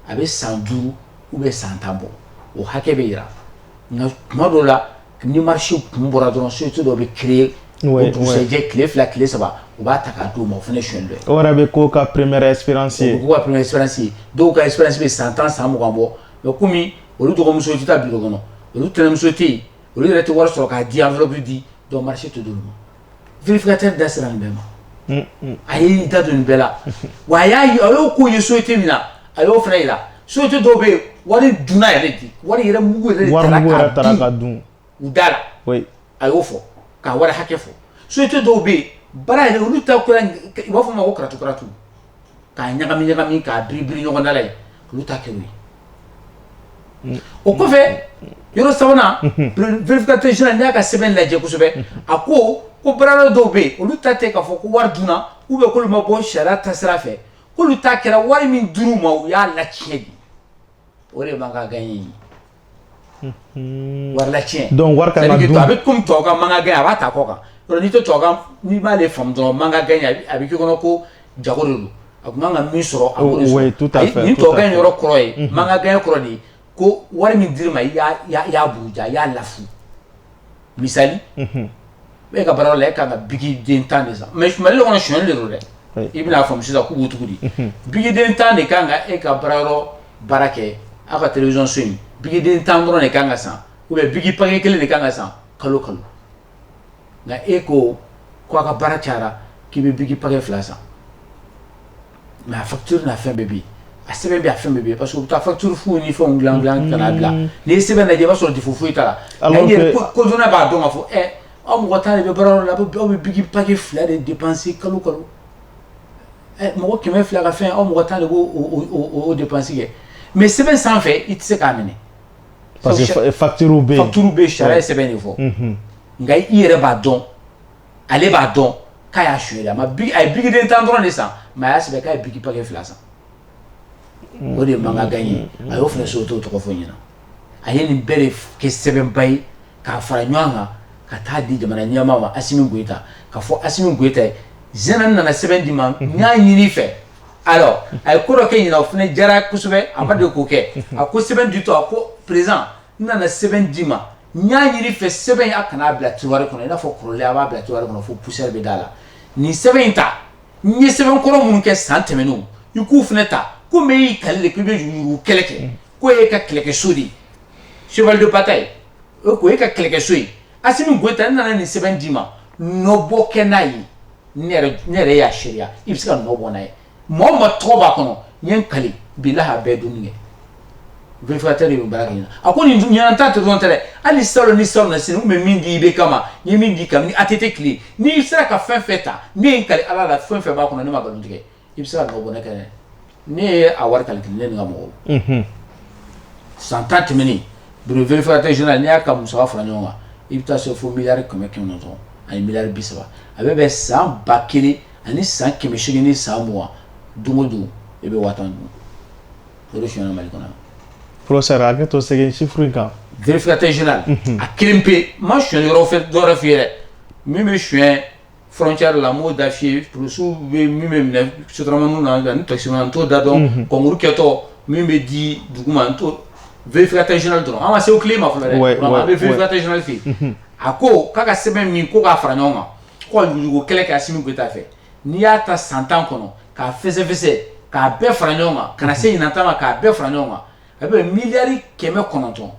a bɛ san duuru ou bien san tan bɔ o hakɛ bɛ jira nka tuma dɔw la ni marché kun bɔra dɔrɔn société dɔ bɛ créer o dugusɛjɛ tile fila tile saba u b'a ta k'a d'o ma o fana ye sonyɛli dɔ ye o yɛrɛ bɛ k'o ka première expérience ye ka première expérience ye dɔw ka expérience bɛ san tan san mugan bɔ Mais kɔmi olu dɔgɔmuso tɛ taa bureau kɔnɔ olu tɛnɛmuso tɛ yen olu yɛrɛ tɛ wari sɔrɔ k'a di enveloppe di donc marché tɛ d'olu ma vérificateur da sera nin bɛɛ ma a ye i da don nin bɛɛ la wa a y'a a y'o ko ye société min na a y'o fana jira société dɔw bɛ yen wari dunna yɛrɛ de wari yɛrɛ mugu yɛrɛ dun u da la, oui a y'o fɔ k'a wari hakɛ fɔ société dɔw bɛ yen baara yɛrɛ olu ta kɛra u b'a fɔ o ma ko karatu karatu k'a ɲagami ɲagami k'a biri biri ɲɔgɔn da la yen olu ta kɛr'o ye o kɔfɛ yɔrɔ sabanan vérificateur général n'i y'a ka sɛbɛn lajɛ kosɛbɛ a ko ko baarayɔrɔ dɔw bɛ yen olu ta tɛ k'a fɔ ko wari dunna ou bien k'olu ma bɔ sariya taasira fɛ k'olu ta kɛra wari min dir'u ma u y'a laciyɛn de o de manque à gagner wari latiɲɛ donc wari ka kan ka dun a bɛ komi tubabu ka manque à gagner a b'a ta kɔ kan yɔrɔ n'i tɛ tubabu kan n'i m'ale faamu dɔrɔn manque à gagner a bɛ k'i kɔnɔ ko jago de don a tun man ka min sɔrɔ a b'o de sɔrɔ nin tubabu kan yɔrɔ kɔrɔ ye manque à gagner kɔrɔ de ye ko wari min dir'i ma i y'a buruja i y'a lafu misali unhun e ka baara yɔrɔ la e ka kan ka biki den 10 de san mais Mali kɔnɔ sonyali de don dɛ oui i bɛn'a faamu sisan k'u b'u tugu di unhun biki den 10 de ka kan ka e ka baara yɔrɔ baara kɛ aw ka télévision so in biki den 10 dɔrɔn de ka kan ka san ou bien biki paquet 1 de ka kan ka san kalo kalo nka e ko ko a ka baara cayara k'i bɛ biki paquet 2 san mais a facture n'a fɛn bɛɛ bɛ yen a sɛbɛn bɛɛ a fɛn bɛɛ bɛ yen parce que u bɛ taa facture fu ni fɛnw dilan k'a bila n'i ye sɛbɛn lajɛ i b'a sɔrɔ défaut foyi t'a la nka i yɛrɛ conscience na i b'a dɔn k'a fɔ ɛ aw mɔgɔ tan de bɛ baara yɔrɔ la aw bɛ biki paquet fila de dépenser kalo kalo mɔgɔ kɛmɛ fila ka fɛn aw mɔgɔ tan de b'o dépense kɛ mais sɛbɛn sanfɛ i tɛ se k'a minɛ parce que facture bɛ yen sariya ye sɛbɛn de fɔ nka i yɛrɛ b'a dɔn ale b'a dɔn k'a y'a sonya a ye biki den tan dɔrɔn de san mais a y'a sɛbɛn k'a ye biki paquet fila san o de ye manque à gagner ye a y'o fana société tɔgɔ fɔ ɲinan a ye nin bɛɛ de kɛ sɛbɛnba ye k'a fara ɲɔgɔn kan ka taa di jamana ɲɛmaa ma Asimi Goyita k'a fɔ Asimi Goyita ye général n nana sɛbɛn d'i ma n y'a ɲini i fɛ alors a ye ko dɔ kɛ ɲinan o fana diyara kosɛbɛ a ma deli k'o kɛ a ko sɛbɛn ditɔ a ko président n nana sɛbɛn d'i ma N y'a ɲini i fɛ sɛbɛn a kana n'a bila tiroir kɔnɔ i n'a fɔ kɔrɔlen a b'a bila tiroir kɔnɔ fo poussière bɛ d'a la nin sɛbɛn in ta n ye sɛbɛn kɔrɔ minnu kɛ san tɛmɛnenw i k'u fana ta komi e y'i kali de k'i bɛ yurugu kɛlɛ kɛ ko e ka kɛlɛkɛso de ye cheval de bataille o ko e ka kɛlɛkɛso ye Asimi Goyita ne nana nin sɛbɛn d'i ma nɔbɔ kɛ n'a ye ne yɛrɛ y'a seereya i bɛ se ka nɔ bɔ n'a ye Mɔgɔ o mɔgɔ tɔgɔ b'a kɔnɔ n ye n kali bilahi a bɛɛ dunni kɛ vérificateur de bɛ baara kɛ ɲinan a ko nin dun ɲinan ta dɔrɔn tɛ dɛ hali salon ni salon na sini n tun bɛ min di IBK ma n ye min di kabini ATT tile n'i sera ka fɛn fɛn ta ne ye n kali Ala la fɛn fɛn b'a kɔnɔ ne ma nkalon tigɛ i bɛ se ka nɔ bɔ ne yɛrɛ ne ye a wari calculer ne ni n ka mɔgɔw unhun san tan tɛmɛnen bureau vérificateur général n'i y'a ka musaka fara ɲɔgɔn kan i bɛ taa se fo miliyari kɛmɛ kɛmɛ ni kɔ ani miliyari bi saba a bɛ bɛn san ba kelen ani san kɛmɛ segin ni san mugan don o don e bɛ waa tan dun o de sonyɛna mali kɔnɔ professeur a kɛto segin chiffre in kan vérificateur général mhm. a kelen pe n ma sonyali yɔrɔ fɛ dɔ wɛrɛ f'i ye dɛ min bɛ sonyɛ frontière la n m'o da f'i ye polisiw bɛ min bɛɛ minɛ sotaramaninw na ani takisimanw na n t'o da dɔn mhm. concours kɛtɔ min bɛ di duguma n t'o vérificateur général dɔrɔn an ma se OCLEI ma fɔlɔ dɛ an bɛ vérificateur général fɛ yen a ko k'a ka sɛbɛn min ko k'a fara ɲɔgɔn kan ka yuruguyurugu kɛlɛ kɛ Asimi Goyita fɛ n'i y'a ta san tan kɔnɔ k'a fɛsɛfɛsɛ k'a bɛɛ fara ɲɔgɔn kan ka na se ɲinan ta ma k'a bɛɛ fara ɲɔgɔn kan a bɛ miliyari kɛmɛ kɔnɔntɔn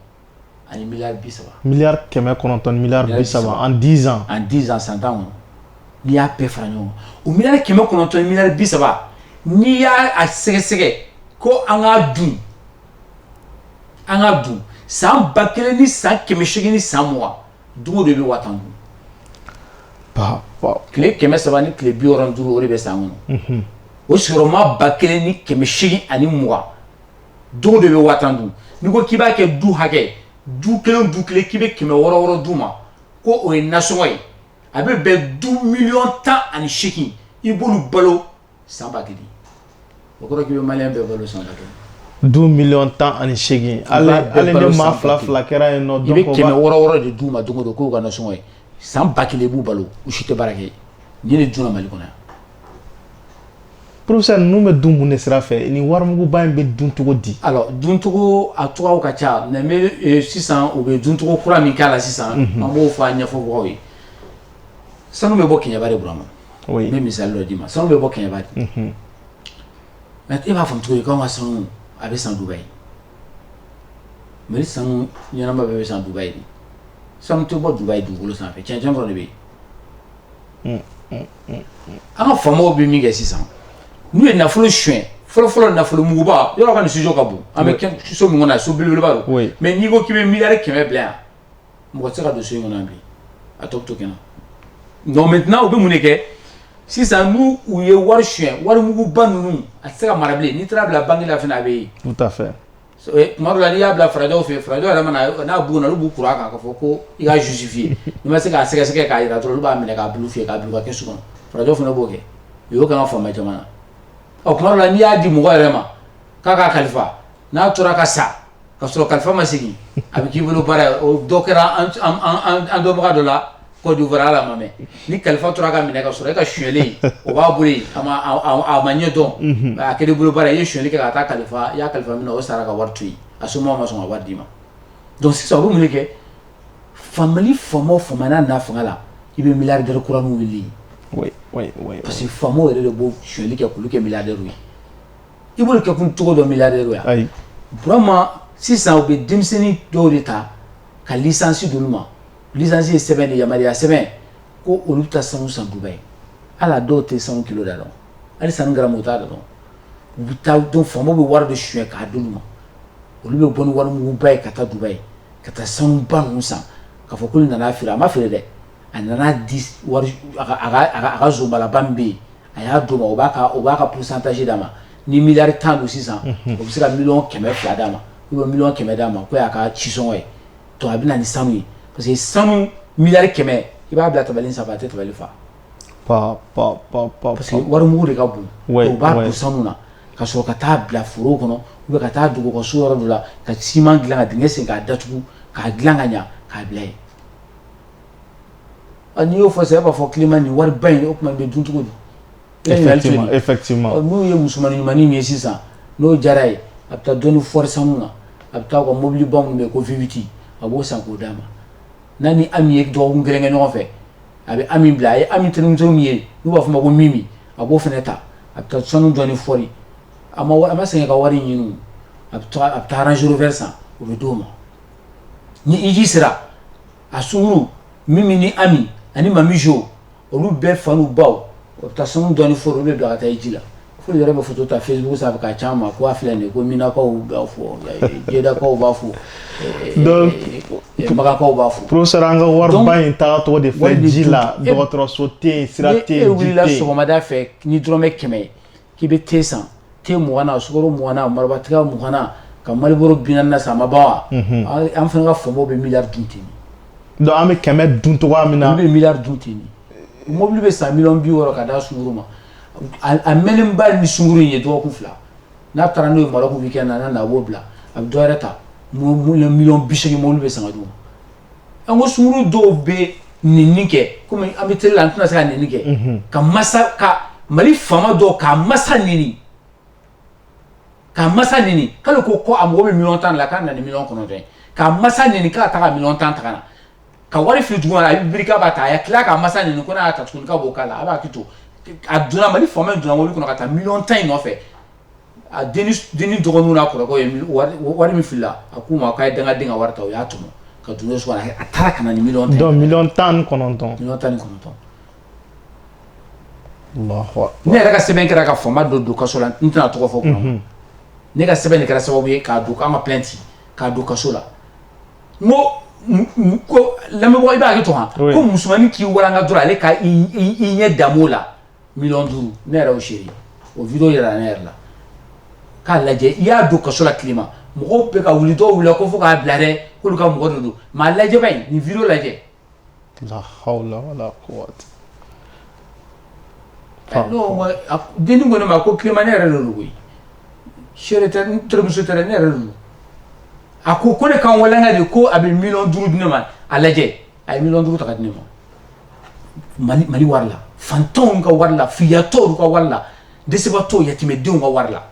ani miliyari bi saba miliyari kɛmɛ kɔnɔntɔn ni miliyari bi saba en dix ans en dix ans san tan kɔnɔ n'i y'a bɛɛ fara ɲɔgɔn kan o miliyari kɛmɛ kɔnɔntɔn ni miliyari bi saba n'i y'a sɛgɛsɛgɛ ko an k'a dun san ba kelen ni san kɛmɛ segin ni san dugu de bɛ wa tan dun tile kɛmɛ saba ni tile bi wɔɔrɔ ni duuru o de bɛ san kɔnɔ o sigiyɔrɔma ba kelen ni kɛmɛ seegin ani mugan dugu de bɛ wa tan dun n'i ko k'i b'a kɛ du hakɛ du kelen du kelen k'i bɛ kɛmɛ wɔɔrɔ wɔɔrɔ d'u ma ko o ye nasɔngɔ ye a bɛ bɛn du miliyɔn tan ani seegin i b'olu balo san ba kelen o kɔrɔ k'i bɛ maliyɛn bɛɛ balo san ba kelen du miliyɔn tan ani seegin hali hali ni maa fila fila kɛra yen nɔ i bɛ kɛmɛ wɔɔrɔ wɔɔrɔ de d'u ma don o don k'u ka nasɔngɔ ye san ba kelen i b'u balo u si tɛ baara kɛ nin de dunna mali kɔnɔ yan professeur ninnu bɛ dun mun de sira fɛ ni warimuguba in bɛ dun cogo di alors duncogo a cogoyaw ka ca mais n bɛ sisan u bɛ duncogo kura min k'a la sisan an b'o fɔ a ɲɛfɔ mɔgɔw ye sanu bɛ bɔ kɛɲɛba de Burama n bɛ misali dɔ d'i ma sanu bɛ bɔ kɛɲɛba de mais e b'a faamu cogo di k'an ka sanu a bɛ san Dubayi Mali sanu ɲɛnama bɛɛ bɛ san Dubayi de sanu tɛ bɔ Dubayi dugukolo sanfɛ cɛncɛn dɔrɔn de bɛ yen an ka faamaw bɛ min kɛ sisan n'u ye nafolo suɲɛ fɔlɔfɔlɔ nafolo muguba yɔrɔ ka nin studio ka bon an bɛ so min na so belebeleba don mais n'i ko k'i bɛ miliyari kɛmɛ bila yan mɔgɔ tɛ se ka don so in kɔnɔ yan bi a tɔ bɛ to kɛnɛ donc maintenant u bɛ mun de kɛ sisan n'u u ye wari suɲɛ wari muguba ninnu a tɛ se ka mara bilen n'i taar'a bila banque la fana a bɛ ye tout à fait eh, tuma dɔ la n'i y'a bila farajɛw fɛ yen farajɛw yɛrɛ mana n'a bugunna olu b'u kur'a kan k'a fɔ ko i ka justifier n'i ma se k'a sɛgɛsɛgɛ k'a jira dɔrɔn olu b'a minɛ k'a bulu fiyɛ k'a bila u ka kɛsu kɔnɔ farajɛw fana b'o kɛ u y'o k'an ka faama caman na ɔ tuma dɔ la n'i y'a di mɔgɔ yɛrɛ ma k'a k'a kalifa n'a tora ka sa ka sɔrɔ kalifa ma segin a bɛ k'i bolo baara ye o dɔ kɛra an dɔnbaga dɔ la Côte d'Ivoire ala ma mɛn ni kalifa tora ka minɛ ka sɔrɔ e ka suyɛlen o b'a bolo yen a ma ɲɛ dɔn a kɛra i bolo baara i ye suyɛli kɛ ka taa kalifa i y'a kalifa min na o sara ka wari to yen a somɔgɔw ma sɔn ka wari d'i ma donc sisan o bɛ mun de kɛ faama faama o faama n'a na fanga la i bɛ milliardaire kura wuli parce que faamaw yɛrɛ de b'o suyɛli kɛ k'olu kɛ milliardaire ye i b'olu kɛ kun cogo dɔ milliardaire ya burama sisan u bɛ denmisɛnnin dɔw de ta ka licence d'olu ma licence ye sɛbɛn de yamaruya sɛbɛn ko olu bɛ taa sanu san Dubaï ala dɔw tɛ sanu kilo da dɔn hali sanu garamu t'a da dɔn u bɛ taa donc faamaw bɛ wari de suyɛn k'a d'olu ma olu bɛ bɔ ni warimuguba ye ka taa Dubaï ka taa sanu ba ninnu san ka fɔ k'olu nana feere a ma feere dɛ a nana di a ka zonbalaba min bɛ yen A y'a d'o ma o b'a ka pourcentage d'a ma ni miliyari tan don sisan o bɛ se ka miliyɔn kɛmɛ fila d'a ma ou bien miliyɔn kɛmɛ d'a ma ko y'a ka cisɔngɔ ye donc a bɛ na ni sanu ye parce que sanu miliyari kɛmɛ i b'a bila tabali sanfɛ a tɛ tabali fa parce que warimugu de ka bon u b'a don sanu na ka sɔrɔ ka taa bila foro kɔnɔ ou bien ka taa dogo ka so yɔrɔ dɔ la ka siman dilan ka dingɛ sen k'a datugu k'a dilan ka ɲɛ k'a bila yen A n'i y'o fɔ sisan e b'a fɔ climat nin ye wari ba in ye o tuma nin bɛ dun cogo di effectivement effectivement ɔ n'u ye musomani ɲumani min ye sisan n'o diyara a ye a bɛ taa dɔɔni fɔri sanu na a bɛ taa u ka mobili ba minnu bɛ yen ko V8 a b'o san k'o d'a ma n'a ni Ami ye dɔgɔkun kelen kɛ ɲɔgɔn fɛ a bɛ Ami bila a ye Ami terimuso min ye n'u b'a fɔ o ma ko Mimi a b'o fana ta a bɛ taa sanu dɔɔni fɔri a ma wari a ma sɛgɛn ka wari ɲini o a bɛ taa a bɛ taa Range Rover san o bɛ d'o ma ni hiji sera a sunguru mimi ni ami ani mami jo olu bɛɛ fa n'u baw o bɛ taa sanu dɔɔni fɔri olu bɛ bila ka taa hiji la fo yɛrɛ bɛ foto ta facebook sanfɛ k'a ci a ma ko a filɛ nin ye ko minakaw b'a fɔ jedakaw b'a fɔ donc makakaw b'a fɔ professeur an ka wariba in taga cogo de filɛ ji la dɔgɔtɔrɔso tɛ yen sira tɛ yen ji tɛ yen e wulila sɔgɔmada fɛ ni dɔrɔmɛ kɛmɛ ye K'i bɛ te san te mɔgɔ na sumaworo mɔgɔ na maratigɛ mɔgɔ na ka malibolo bi na sa maba wa an fana ka fɔ bɛ mi dun ten don an bɛ kɛmɛ dun tɔgɔ min na an bɛ mi dun ten mɔbili bɛ sa mi bi wɔɔrɔ ka da sumaworo ma a mɛnenba ni sumaworo ye dɔgɔkun fila n'a taara n'o ye bɛ kɛ na na a b'o bila a bɛ dɔwɛrɛ ta mi bisimila mɔbili bɛ san don an ko sunguru dɔw bɛ nɛnini kɛ kɔmi an bɛ tele la an tɛna se ka nɛnini kɛ ka ka mali faama dɔw k'a masa nɛni k'a masa nɛni k'ale ko ko a mago bɛ miliyɔn tan la k'a nana ni miliyɔn kɔnɔntɔn ye k'a masa nɛni k'a ta ka miliyɔn tan ta ka na ka wari fili duguma a bɛ biri k'a b'a ta a tila k'a masa nɛni ko n'a y'a ta tuguni k'a b'o k'a la a b'a to a donna mali faama donna mɔbili kɔnɔ ka taa miliyɔn tan in nɔfɛ a dennin dɔgɔninw n'a kɔrɔkɛw ye wari min filila a k'u ma k'a ye dangaden ka wari ta u y'a tɔmɔ ka don n'o so kɔnɔ a taara ka na ni miliyɔn tan donc miliyɔn tan ni kɔnɔntɔn miliyɔn tan ni kɔnɔntɔn ne yɛrɛ ka sɛbɛn kɛra ka faama dɔ don kaso la n tɛna tɔgɔ fɔ kuma mhm. ne ka sɛbɛn de kɛra sababu ye k'a don k'an ka plainte k'a don kaso la n ko ko lamɛnbagaw i b'a hakɛ to han ko musomanin k'i walanga dɔrɔn ale ka i ɲɛ dam'o la Miliyɔn duuru ne yɛrɛ y'o seere o vidéo yɛrɛ ne yɛrɛ la k'a lajɛ i y'a don kaso la Clément mɔgɔw bɛ ka wuli dɔw wulila ko fo k'a bila dɛ k'olu ka mɔgɔ de don mais a lajɛ ba in nin vidéo lajɛ dennin ko ne ma ko Clément ne yɛrɛ don koyi n terimuso tɛ ne yɛrɛ don a ko ko ne ka n walanga de ko a bɛ miliyɔn duuru di ne ma a lajɛ a ye million duuru ta ka di ne ma Mali Mali wari la fantanw ka wari la filiyatɔw ka wari la dɛsɛbaatɔw yatimɛdenw ka wari la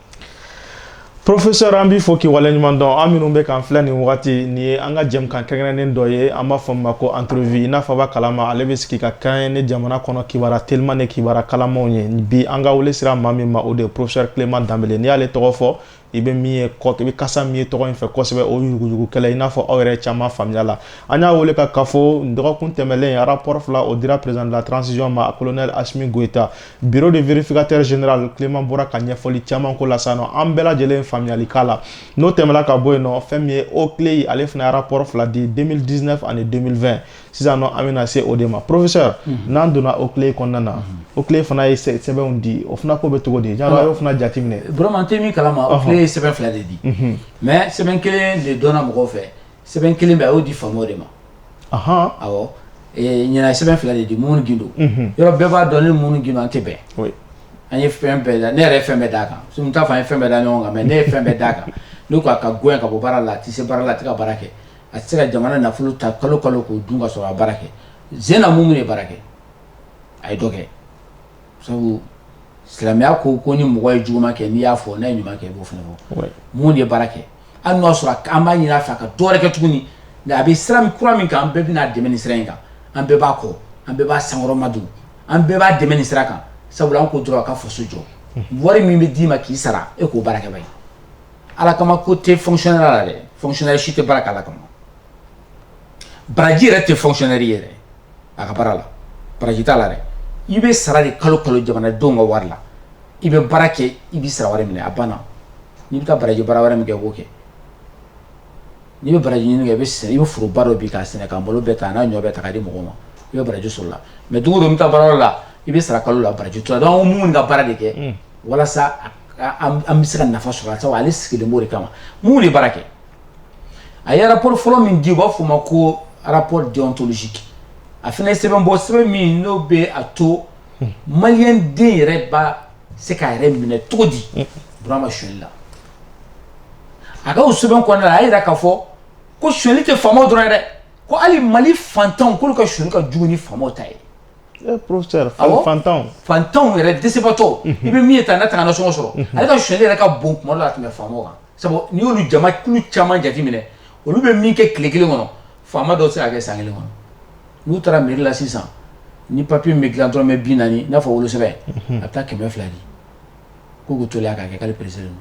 Professeur an b'i fo k'i waleɲuman dɔn aw minnu bɛ k'an filɛ nin wagati nin ye an ka jɛmukan kɛrɛnkɛrɛnnen dɔ ye an b'a fɔ min ma ko entrevue i n'a fɔ a b'a kalama ale bɛ sigi ka kɛɲɛ ni jamana kɔnɔ kibaruya teliman ni kibaruya kalamanw ye bi an ka wele sera maa min ma o de ye professeur Clément Dembélé n'i y'ale tɔgɔ fɔ i bɛ min ye kɔ i bɛ kasa min ye tɔgɔ in fɛ kosɛbɛ o yuruguyurugu kɛlɛ i n'a fɔ aw yɛrɛ caman faamuya la an y'a wele ka k'a fɔ dɔgɔkun tɛmɛnlen rapport fila o dira président de la transition ma colonel Assimi Goïta bureau de vérificateur général Clément bɔra ka ɲɛfɔli caman k'o la sisan nɔ an bɛɛ lajɛlen faamuyali k'a la n'o tɛmɛna ka bɔ yen nɔ fɛn min ye OCLEI ale fana rapport fila di deux mille dix-neuf ani deux mille vingt sisan nɔ an bɛna se o de ma professeur mhm. n'an donna OCLEI kɔnɔna na mhm. OCLEI fana ye sɛbɛnw di o fana ko bɛ cogo di yala a y'o fana jate minɛ vraiment an tɛ min kalama OCLEI ye sɛbɛn fila de di mhm. mais sɛbɛn kelen de dɔnna mɔgɔw fɛ sɛbɛn kelen bɛ a y'o di faamaw de ma awɔ ɲinan sɛbɛn fila de di Moumouni Guindo yɔrɔ bɛɛ b'a dɔn ne ni Moumouni Guindo an tɛ bɛn an ye fɛn bɛɛ da ne yɛrɛ ye fɛn bɛɛ d'a kan n t'a fɔ an ye fɛn bɛɛ da ɲɔgɔn kan mais ne ye fɛn bɛɛ d'a kan ne ko a ka gɛn ka bɔ baara la a tɛ se baara la a tɛ ka baara kɛ A tɛ se ka jamana nafolo ta kalo kalo k'o dun ka sɔrɔ a ma baara kɛ ɲinan Moumouni ye baara kɛ a ye dɔ kɛ sabu silamɛya ko ko ni mɔgɔ ye juguman kɛ n'i y'a fɔ n'a ye ɲuman kɛ i b'o fana fɔ Moumouni ye baara kɛ hali n'o y'a sɔrɔ k'an b'a ɲini a fɛ a ka dɔwɛrɛ kɛ tuguni nka a bɛ sira kura min kan an bɛɛ bɛna a dɛmɛ nin sira in kan an bɛɛ b'a kɔ an bɛɛ b'a senkɔrɔmadon an bɛɛ b'a dɛmɛ nin sira kan sabula an ko dɔrɔn a ka faso jɔ wari min bɛ d'i ma k'i sara e k'o baara kɛ ye ala kama ko tɛ fonctionnaire la dɛ fonctionnaire si tɛ baara kɛ ala kama baraji yɛrɛ tɛ fonctionnaire ye dɛ a ka baara la baraji t'a la dɛ i bɛ sara de kalo kalo jamanadenw ka wari la i bɛ baara kɛ i bɛ sara wari minɛ a banna n'i bɛ taa baraji baara wɛrɛ min kɛ i b'o kɛ n'i bɛ baraji ɲini kɛ i bɛ sɛnɛ i bɛ foroba dɔ bin k'a sɛnɛ k'a malo bɛɛ ta n'a ɲɔ bɛɛ ta k'a di mɔgɔw ma i bɛ baraji sɔrɔ o la mais don o don i bɛ taa baara yɔrɔ la i bɛ sara kalo la baraji t'o la donc an ko Moumouni ka baara de kɛ walasa an bɛ se ka nafa sɔrɔ sabu ale sigilen b'o de kama minnu de baara kɛ a ye rapport fɔlɔ min di u b'a f'o ma ko rapport déontologique a fana ye sɛbɛn bɔ sɛbɛn min n'o bɛ a to maliden yɛrɛ bɛ se k'a yɛrɛ minɛ cogo di Burama sonyali la a ka sɛbɛn kɔnɔna a y'a jira k'a fɔ ko sonyali tɛ faama dɔrɔn ye dɛ ko hali mali fantanw k'olu ka sonyali ka jugu ni faama ta ye Eh, professeur awɔ fantanw fantanw yɛrɛ dɛsɛbaatɔ unhun i bɛ min ye tan n'a tɛ ka nasɔngɔ sɔrɔ unhun ale ka sonyali yɛrɛ ka bon tuma dɔ la ka tɛmɛ faamaw kan sabu n'i y'olu jama kulu caman jateminɛ olu bɛ min kɛ tile kelen kɔnɔ faama dɔ tɛ se k'a kɛ san kelen kɔnɔ n'u taara mairie la sisan ni papier min bɛ dilan dɔrɔmɛ bi naani i n'a fɔ wolosɛbɛn unhun a bɛ taa kɛmɛ fila di ko k'u teliya k'a kɛ k'ale pressé don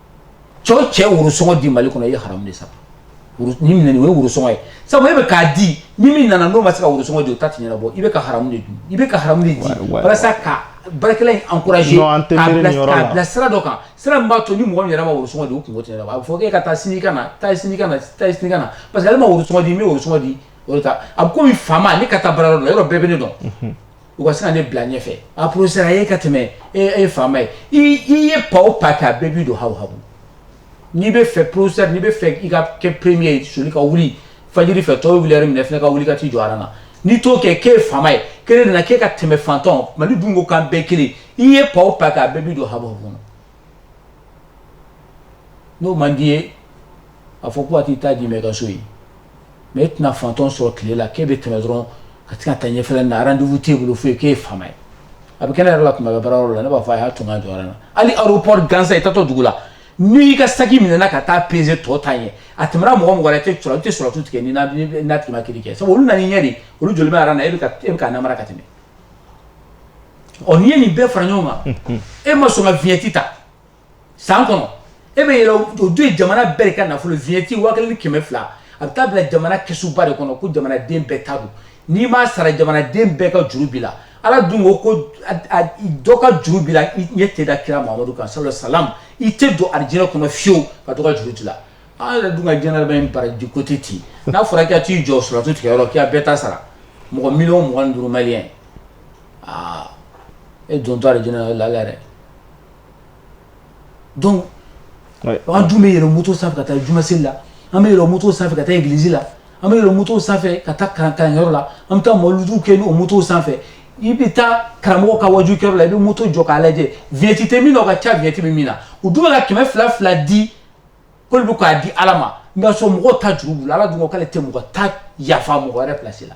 cɛ o cɛ worosɔngɔ di mali kɔnɔ i ye haramu de sara ni minɛ o ye worosɔngɔ ye sabu e bɛ k'a di ni min nana n'o ma se ka worosɔngɔ di o ta ti ɲɛnabɔ i bɛ ka haramu de dun i bɛ ka haramu de di walasa ka baarakɛla in encourager k'a bila sira dɔ kan sira min b'a to ni mɔgɔ min yɛrɛ ma worosɔngɔ di o kungo tɛ ɲɛnabɔ a bɛ fɔ k'e ka taa sini ka na taa sini ka na taa sini ka na parce que ale ma worosɔngɔ di n bɛ worosɔngɔ di o de ta a bɛ komi faama ne ka taa baarayɔrɔ la yɔrɔ bɛɛ bɛ ne dɔn u ka se ka ne bila ɲɛfɛ a professeur a ye ka tɛmɛ e ye faama ye i ye pa o pa kɛ a bɛɛ b'i don habu habu n'i bɛ fɛ professeur n'i bɛ fɛ i ka kɛ premier ye soli ka wuli fajiri fɛ tɔw bɛ wuli lɛrɛ min e fana ka wuli ka t'i jɔ aran na n'i t'o kɛ k'e faama ye k'e nana k'e ka tɛmɛ fantanw mali dun ko k'an bɛɛ kelen i ye pa o pa kɛ a bɛɛ b'i don habu habu kɔnɔ n'o man d'i ye a fɔ ko a t'i ta di mɛ i ka so ye mɛ e tɛna fantanw sɔrɔ tile la k'e bɛ tɛmɛ dɔrɔn ka se ka taa ɲɛfɛ na rendez-vous t'e bolo foyi k'e faama ye a bɛ kɛ ne yɛrɛ la tuma bɛɛ baarayɔrɔ la ne b'a fɔ a y'a to n ka jɔ aran na hali aéroport gansan i taatɔ dugu la n'i ka saki minɛna ka taa peser tɔw ta ɲɛ a tɛmɛna mɔgɔ o mɔgɔ i tɛ sɔrɔ i tɛ siratu tigɛ n'i n'a tigi ma kiri kɛ sabu olu nana i ɲɛ de olu jɔlen bɛ aran na e bɛ ka namara ka tɛmɛ ɔ n'i ye nin bɛɛ fara ɲɔgɔn kan e ma sɔn ka vignette ta san kɔnɔ e bɛ yɛlɛ o dun ye jamana bɛɛ de ka nafolo vignette waa kelen ni kɛmɛ fila a bɛ taa bila jamana kɛsuba de kɔnɔ ko jamanaden bɛɛ ta don n'i m'a sara jamanaden bɛɛ ka juru b'i la ala dun ko ko dɔ ka juru b'i la i ɲɛ tɛ da kira Muhamadu kan sallallahu alaihi wasallam i tɛ don arijinɛ kɔnɔ fiyewu ka dɔ ka juru t'i la An yɛrɛ dun ka diɲɛnatigɛ in baraji ko tɛ ten, n'a fɔra k'i ka t'i jɔ siratu tigɛyɔrɔ k'i ka bɛɛ ta sara mɔgɔ miliyɔn mugan ni duuru maliyɛn aa e dontɔ arijinɛ na o ye lahiya ye dɛ donc an dun bɛ yɛlɛn moto sanfɛ ka taa juma seli la, an bɛ yɛlɛn moto sanfɛ ka taa église la, an bɛ yɛlɛn moto sanfɛ ka taa kalankɛyɔrɔ la, an bɛ taa mawuludu kɛ n'o moto sanfɛ, i bɛ taa karamɔgɔ ka waajukɛyɔrɔ la i bɛ moto jɔ k'a lajɛ vignette tɛ min na o ka ca vignette bɛ min na u dun bɛ ka kɛmɛ fila fila di k'olu bɛ k'a di ala ma n'a sɔrɔ mɔgɔ ta juru b'u la ala dun k'ale tɛ mɔgɔ ta yafa mɔgɔ wɛrɛ plasi la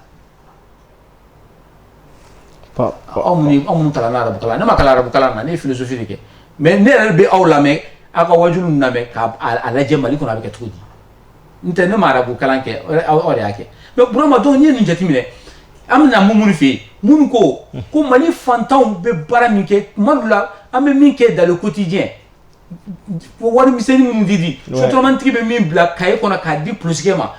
aw ta arabukalan ne ma kalan arabukalan na ne ye philosophie de kɛ mɛ ne yɛrɛ bɛ aw lamɛn aw ka waju lamɛn k'a lajɛ mali kɔnɔ a bɛ kɛ cogo di n tɛ ne ma arabu kalan kɛ aw de y'a kɛ mɛ Burama donc n'i ye nin jateminɛ an bɛna Mumuni fɛ yen Mumuni ko ko mali fantanw bɛ baara min kɛ tuma dɔw la an bɛ min kɛ dans le quotidien wari misɛnnin minnu di di sotromantigi bɛ min bila cahier kɔnɔ k'a di polisikɛ ma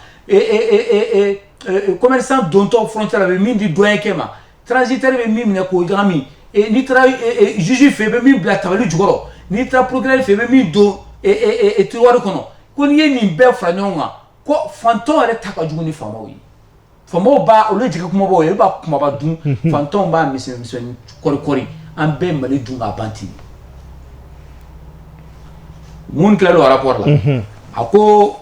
commerçant dontɔ frontière la bɛ min di douanierkɛ ma transitaire bɛ min minɛ k'o ɲagami n'i taara juge fɛ bɛ min bila tabali jukɔrɔ n'i taara procureur fɛ bɛ min don tiroir kɔnɔ ko n'i ye nin bɛɛ fara ɲɔgɔn kan ko fantan yɛrɛ ta ka jugu ni faamaw ye faamaw b'a olu ye jɛgɛ kumabaw ye olu b'a kumaba dun fantan b'a misɛnnin kɔri an bɛɛ mali dun ka ban ten Mumuni tilala o arapɔri la a ko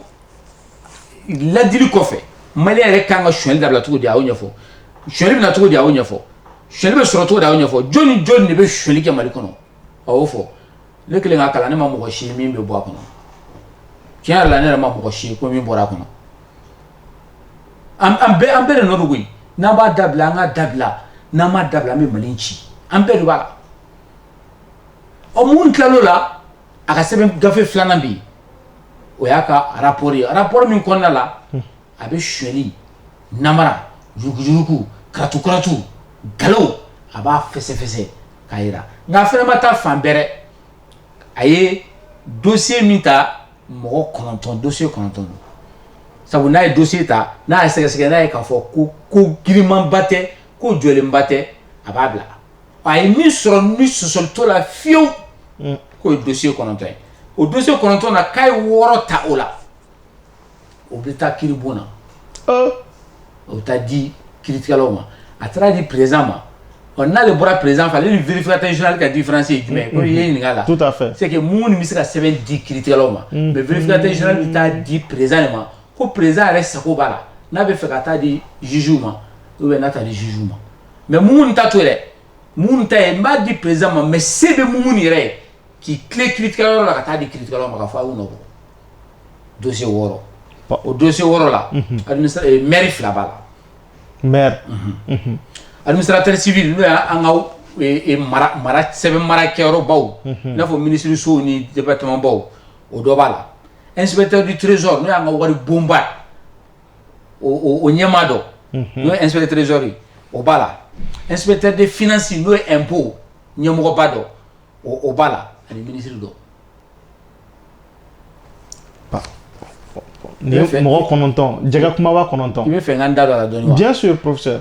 ladili kɔfɛ malien yɛrɛ kan ka suɲɛli dabila cogo di a y'o ɲɛfɔ suɲɛli bɛ na cogo di a y'o ɲɛfɔ suɲɛli bɛ sɔrɔ cogo di a y'o ɲɛfɔ jɔn ni jɔn de bɛ suɲɛli kɛ mali kɔnɔ A y'o fɔ ne kɛlen k'a kalan ne ma mɔgɔ si ye min bɛ bɔ a kɔnɔ tiɲɛ yɛrɛ la ne yɛrɛ ma mɔgɔ si ye ko min bɔra a kɔnɔ an bɛɛ de nɔ don koyi n'an b'a dabila an k'a dabila n'an m'a dabila an bɛ mali ci an bɛɛ de b'a la ɔ Mumuni tilal'o la a ka sɛbɛn gafe filanan bɛ yen o y'a ka arapɔri ye arapɔri min kɔnɔna la a bɛ suɲɛli namara yuruguyurugu karatukaratu nkalon a b'a fɛsɛfɛsɛ k'a jira nka a fana ma taa fan bɛrɛ a ye dosiye min ta mɔgɔ kɔnɔntɔn dosiye kɔnɔntɔn don sabu n'a ye dosiye ta n'a y'a sɛgɛsɛgɛ n'a ye k'a fɔ ko ko girinmanba tɛ ko jɔlenba tɛ a b'a bila a ye min sɔrɔ ni sɔsɔli t'o la fiyewu k'o ye dosiye kɔnɔntɔn ye o dosiye kɔnɔntɔn na k'a ye wɔɔrɔ ta o la o bɛ taa kiri bon na o bɛ taa di kiiritigɛlaw ma a taara di perez ma ɔ n'ale bɔra perez fɛ ale ni vfinna tɛ zinali ka di fanase ye jumɛn ko ye ɲininka la fɛ se minnu bɛ se ka sɛbɛn di kiiritigɛlaw ma mɛ vfinina tɛ zinali bɛ taa di perez de ma ko perez yɛrɛ sago b'a la n'a bɛ fɛ ka taa di zzuw ma u bɛ taa di zzuw ma mɛ mun ta to yɛrɛ minnu ta yen n b'a di perez ma mɛ se bɛ mun yɛrɛ ye k'i tile kiiritigɛyɔrɔ la ka taa di kiri ma ka fɔ a' do wɔɔrɔ o do wɔɔrɔ la m fila b'a la m ali sera teri sibi n'o y' an ka sɛbɛn mara kɛyɔrɔbaw n'a fɔ minisiririso ni cɛbabaw o dɔ b'a la e sɛbɛn tɛdi trez n'o y'an ka wari bonba o ɲɛmaa dɔn n'o e sɛbɛn trezori o b'a la e sɛbɛn tɛ de fsi n'o ye bo ɲɛmɔgɔba dɔn o b'a la ani minisiriri dɔn Ni mɔgɔ kɔnɔntɔn jɛgɛ kumaba kɔnɔntɔn i b'a fɛ n ka da don a la dɔɔni wa bien sûr porofesɛ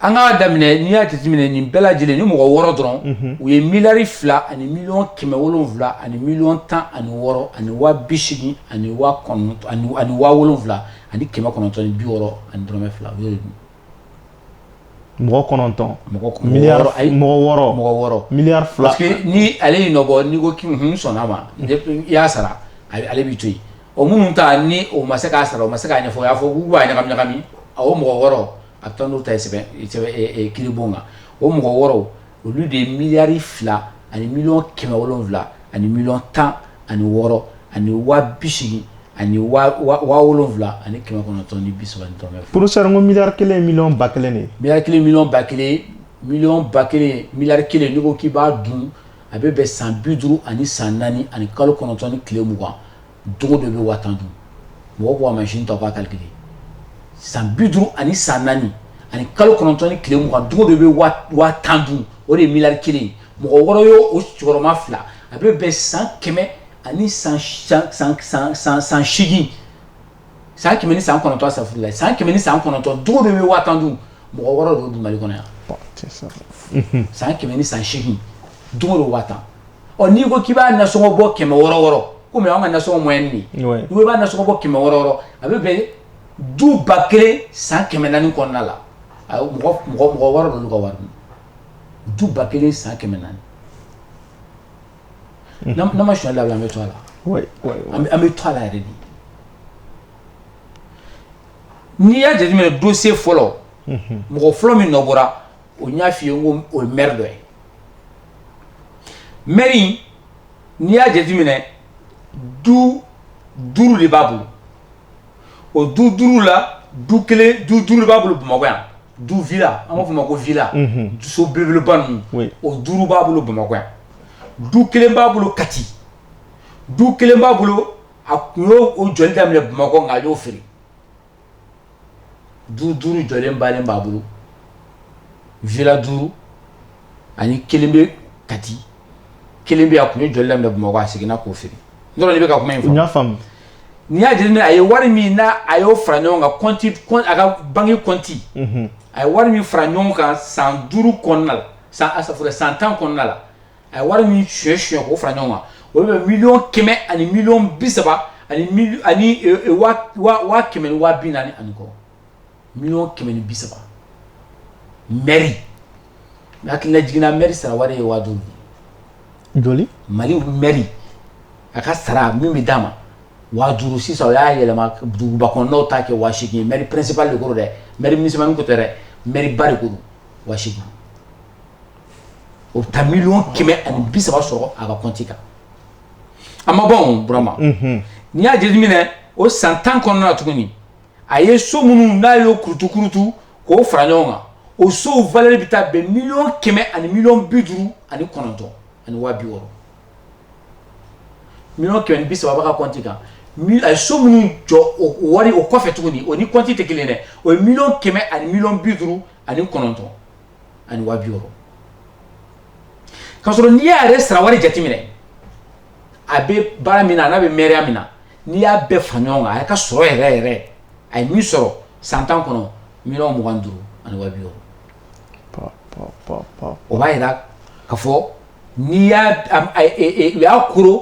an k'a daminɛ n'i y'a jateminɛ nin bɛɛ lajɛlen ni mɔgɔ wɔɔrɔ dɔrɔn u ye miliyari fila ani miliyɔn kɛmɛ wolonwula ani miliyɔn tan ani wɔɔrɔ ani waa bisegin ani waa kɔnɔn ani waa wolonwula ani kɛmɛ kɔnɔntɔn ni bi wɔɔrɔ ani dɔrɔmɛ fila mɔgɔ kɔnɔntɔn mɔgɔ wɔɔrɔ mɔgɔ wɔɔrɔ miliyari fila ni ale y'i nɔbɔ n'i ko k'i sɔnna a ma i y'a sara ale b'i to yen o minnu ta ni o ma se k'a sara o ma se k'a ɲɛfɔ y'a fɔ u b'a ɲagami ɲagami a o mɔgɔ wɔɔrɔ a bɛ taa n'u ta ye sɛbɛn kiiribon kan o mɔgɔ wɔɔrɔ olu de ye miliyari fila ani miliyɔn kɛmɛ wolonwula ani miliyɔn tan ani wɔɔrɔ ani waa bisegin ani waa wolonwula ani kɛmɛ kɔnɔntɔn ni bi saba ni dɔrɔmɛ porofesɛri ko miliyari kelen ye miliyɔn ba kelen de ye miliyari kelen miliyɔn ba kelen miliyɔn ba kelen miliyari kelen n'i ko k'i b'a dun a bɛ bɛn san bi duuru ani san naani ani kalo kɔnɔntɔn ni tile mugan Don go don i bɛ waa tan dun mɔgɔ ko a machine ta k'a calculer san bi duuru ani san naani ani kalo kɔnɔntɔn ni tile mugan don go don i bɛ waa tan dun o de ye miliyari kelen ye mɔgɔ wɔɔrɔ ye o cɛkɔrɔba fila a bɛ bɛn san kɛmɛ ani san segin san kɛmɛ ni san kɔnɔntɔn safurulayi san kɛmɛ ni san kɔnɔntɔn don go don i bɛ waa tan dun mɔgɔ wɔɔrɔ de y'o dun Mali kɔnɔ yan san kɛmɛ ni san segin don go don waa tan ɔ n'i ko k'i b'a nasɔngɔ bɔ kɛmɛ wɔɔrɔ wɔɔrɔ komi an ka nasɔngɔ moyenne n'i b'a nasɔngɔ bɔ kɛmɛ wɔɔrɔ wɔɔrɔ a bɛ bɛn du ba kelen san kɛmɛ naani kɔnɔna la a mɔgɔ mɔgɔ wɔɔrɔ ninnu ka wari du ba kelen san kɛmɛ naani n'an ma sonyali dabila an bɛ to a la an bɛ to a la yɛrɛ de n'i y'a jateminɛ dossier fɔlɔ mɔgɔ fɔlɔ min nɔ bɔra o n y'a f'i ye n ko o ye maire dɔ ye maire in n'i y'a jateminɛ du duuru de b'a bolo o du duuru la du kelen du duuru de b'a bolo bamakɔ yan du villa an b'a fɔ o ma ko villa so belebeleba ninnu o duuru b'a bolo bamakɔ yan du kelen b'a bolo kati du kelen b'a bolo a tun y'o o jɔli daminɛ bamakɔ nka a y'o feere du duuru jɔlen bannen b'a bolo villa duuru ani kelen bɛ kati kelen bɛ a tun ye jɔli daminɛ bamakɔ a seginna k'o feere n dɔrɔn de bɛ ka kuma in n'i y'a jateminɛ a ye wari min n'a y'o fara ɲɔgɔn kan a ka banki kɔnti a ye wari min fara ɲɔgɔn kan san duuru kɔnɔna la san asafurulayi san tan kɔnɔna la a ye wari min suɲɛ suɲɛ k'o fara ɲɔgɔn kan o bɛ bɛn miliyɔn kɛmɛ ani miliyɔn bi saba ani mili ani e, e, waa waa waa kɛmɛ ni waa bi naani ani kɔ miliyɔn kɛmɛ ni bi saba mɛri mɛ hakilina jiginna mɛri sara wari ye waa duuru de ye joli mali mɛri a ka sara min bɛ d'a ma waa duuru sisan o y'a yɛlɛma duguba kɔnɔnaw ta kɛ waa seegin ye mɛri principal de ko don dɛ mɛri municipal ko tɛ dɛ mɛri ba de ko don waa seegin O bɛ taa miliyɔn kɛmɛ ani bi saba sɔrɔ a ka kɔnti kan a ma bɔ burama n'i y'a jateminɛ o san tan kɔnɔna tuguni a ye so minnu n'a y'o kurutu kurutu k'o fara ɲɔgɔn kan o sow valeur bɛ taa bɛn miliyɔn kɛmɛ ani miliyɔn bi duuru ani kɔnɔntɔn ani waa bi wɔɔrɔ miliyɔn kɛmɛ ni bi saba b'a ka kɔnti kan a ye so minnu jɔ o wari o kɔfɛ tuguni o ni kɔnti tɛ kelen dɛ o ye miliyɔn kɛmɛ ani miliyɔn bi duuru ani kɔnɔntɔn ani waa bi wɔɔrɔ k'a sɔrɔ n'i y'a yɛrɛ sara wari jateminɛ a bɛ baara min na n'a bɛ mɛriya min na n'i y'a bɛɛ fara ɲɔgɔn kan a ka sɔrɔ yɛrɛ yɛrɛ a ye min sɔrɔ san tan kɔnɔ miliyɔn mugan ni duuru ani waa bi wɔɔrɔ o b'a yira k'a fɔ n'i y'a kuru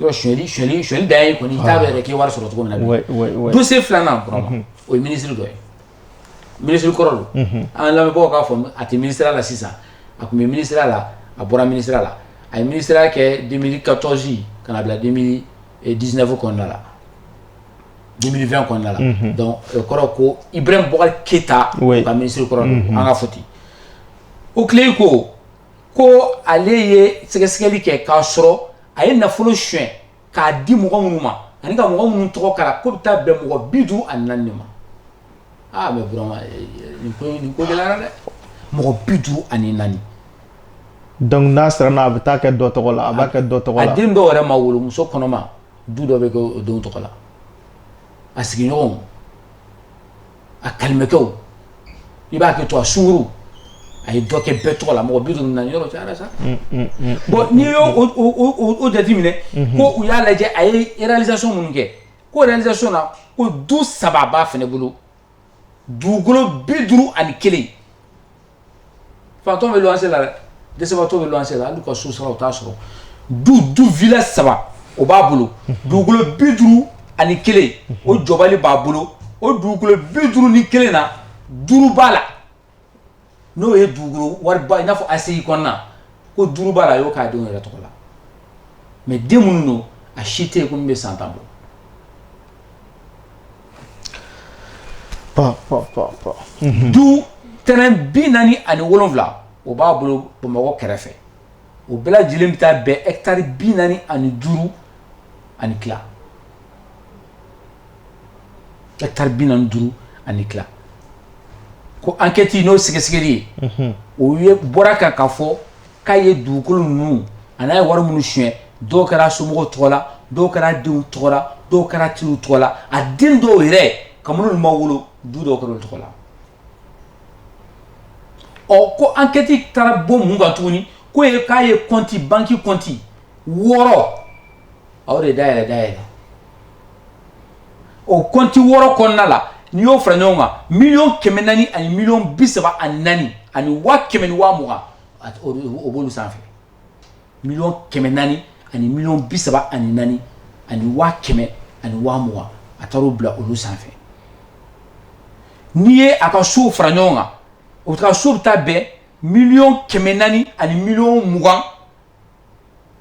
Yɔrɔ suɲɛli suɲɛli dan ye kɔni i t'a dɔn yɛrɛ k'i wari sɔrɔ cogo min na dossier filanan burama o ye minisiri dɔ ye minisiri kɔrɔ don an lamɛnbagaw k'a fɔ a tɛ minisiriya la sisan a tun bɛ minisiriya la a bɔra minisiriya la a ye minisiriya kɛ deux mille quatorze ka na bila deux mille dix-neuf kɔnɔna la deux mille vingt kɔnɔna la donc o kɔrɔ ko Ibrahim Boubacar Keita ka minisiri kɔrɔ an k'a fɔ ten OCLEI ko ko ale ye sɛgɛsɛgɛli kɛ k'a sɔrɔ a ye nafolo suɲɛ k'a di mɔgɔ minnu ma ani ka mɔgɔ minnu tɔgɔ k'a la k'o bɛ taa bɛn mɔgɔ bi duuru ani naani ma aa mais burama nin ko nin ko gɛlɛyara dɛ mɔgɔ bi duuru ani naani donc n'a sera n'a bɛ taa kɛ dɔ tɔgɔ la a b'a kɛ dɔ tɔgɔ la a den dɔw yɛrɛ ma wolo muso kɔnɔma du dɔ bɛ kɛ o denw tɔgɔ la a sigiɲɔgɔnw a kalimɛkɛw i b'a kɛ to a sungurun a ye dɔ kɛ bɛɛ tɔgɔ la mɔgɔ bi duuru ni naani yɔrɔ cayara sa bon n'i y'o jateminɛ ko u y'a lajɛ a réalisation minnu kɛ ko réalisation na ko du saba b'a fɛnɛ bolo dugukolo bi duuru ani kelen Faantan bɛ luwanse la dɛ, dɛsɛbagatɔ bɛ luwanse la hali u ka so sara u t'a sɔrɔ, du du villa saba o b'a bolo, dugukolo 51 o jɔbali b'a bolo, o dugukolo 51 na, duuru b'a la n'o ye dugukolo wariba i n'a fɔ ACI kɔnɔna ko duuru b'a la a y'o k'a denw yɛrɛ tɔgɔ la mais den minnu don a si tɛ yen ko min bɛ san tan bɔ du t bi naani ani wolonwula o b'a bolo bamakɔ kɛrɛfɛ o bɛɛ lajɛlen bɛ taa bɛn etari bi naani ani duuru ani tila etari bi naani ani duuru ani tila ko ankɛti n'o sɛgɛsɛgɛli ye o ye bɔra kan k'a fɔ k'a ye dugukolo ninnu a n'a ye wari minnu suɲɛ dɔw kɛra somɔgɔw tɔgɔ la dɔw kɛra denw tɔgɔ la dɔw kɛra teriw tɔgɔ la a den dɔw yɛrɛ ka minnu ma wolo du dɔw kɛra olu tɔgɔ la ɔ ko ankɛti taara bɔ mun kan tuguni ko ye k'a ye kɔnti banki kɔnti wɔɔrɔ a y'o de dayɛlɛ dayɛlɛ o kɔnti wɔɔrɔ kɔnɔna la n'i y'o fara ɲɔgɔn kan miliyɔn kɛmɛ naani ani miliyɔn bi saba ani naani ani waa kɛmɛ ni waa mugan b'olu sanfɛ miliyɔn kɛmɛ naani ani miliyɔn bi saba ani naani ani waa kɛmɛ ani waa mugan a taar'o bila olu sanfɛ n'i ye a ka so fara ɲɔgɔn kan o ka so bɛ taa bɛn miliyɔn kɛmɛ naani ani miliyɔn mugan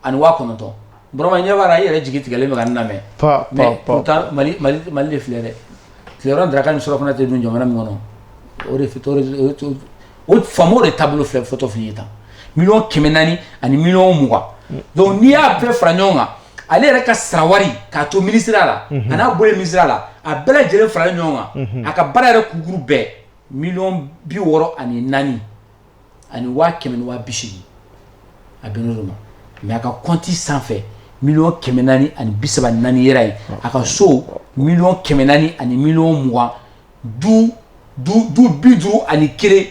ani waa kɔnɔntɔn Burama ɲɛ b'a la i yɛrɛ jigi tigɛlen bɛ ka n lamɛn pa pa mais pa pourtant Mali Mali Mali de filɛ dɛ tilerɔ daraka ni surafana tɛ dun jamana min kɔnɔ o de f t'o réseau o t'o o faamaw de taabolo filɛ fɔtɔ filɛ i ye tan miliyɔn kɛmɛ naani ani miliyɔn mugan donc n'i y'a bɛɛ fara ɲɔgɔn kan ale yɛrɛ ka sara wari k'a to minisiriya la a n'a bɔlen minisiriya la a bɛɛ lajɛlen faralen ɲɔgɔn kan a ka baara yɛrɛ kukuru bɛɛ miliyɔn bi wɔɔrɔ ani naani ani waa kɛmɛ ni waa bi seegin a bɛnn'o de ma mais a ka kɔnti sanfɛ miliyɔn kɛmɛ naani ani bi saba ni naani yɛrɛ ye a ka so miliyɔn kɛmɛ naani ani miliyɔn mugan du du du bi duuru ani kelen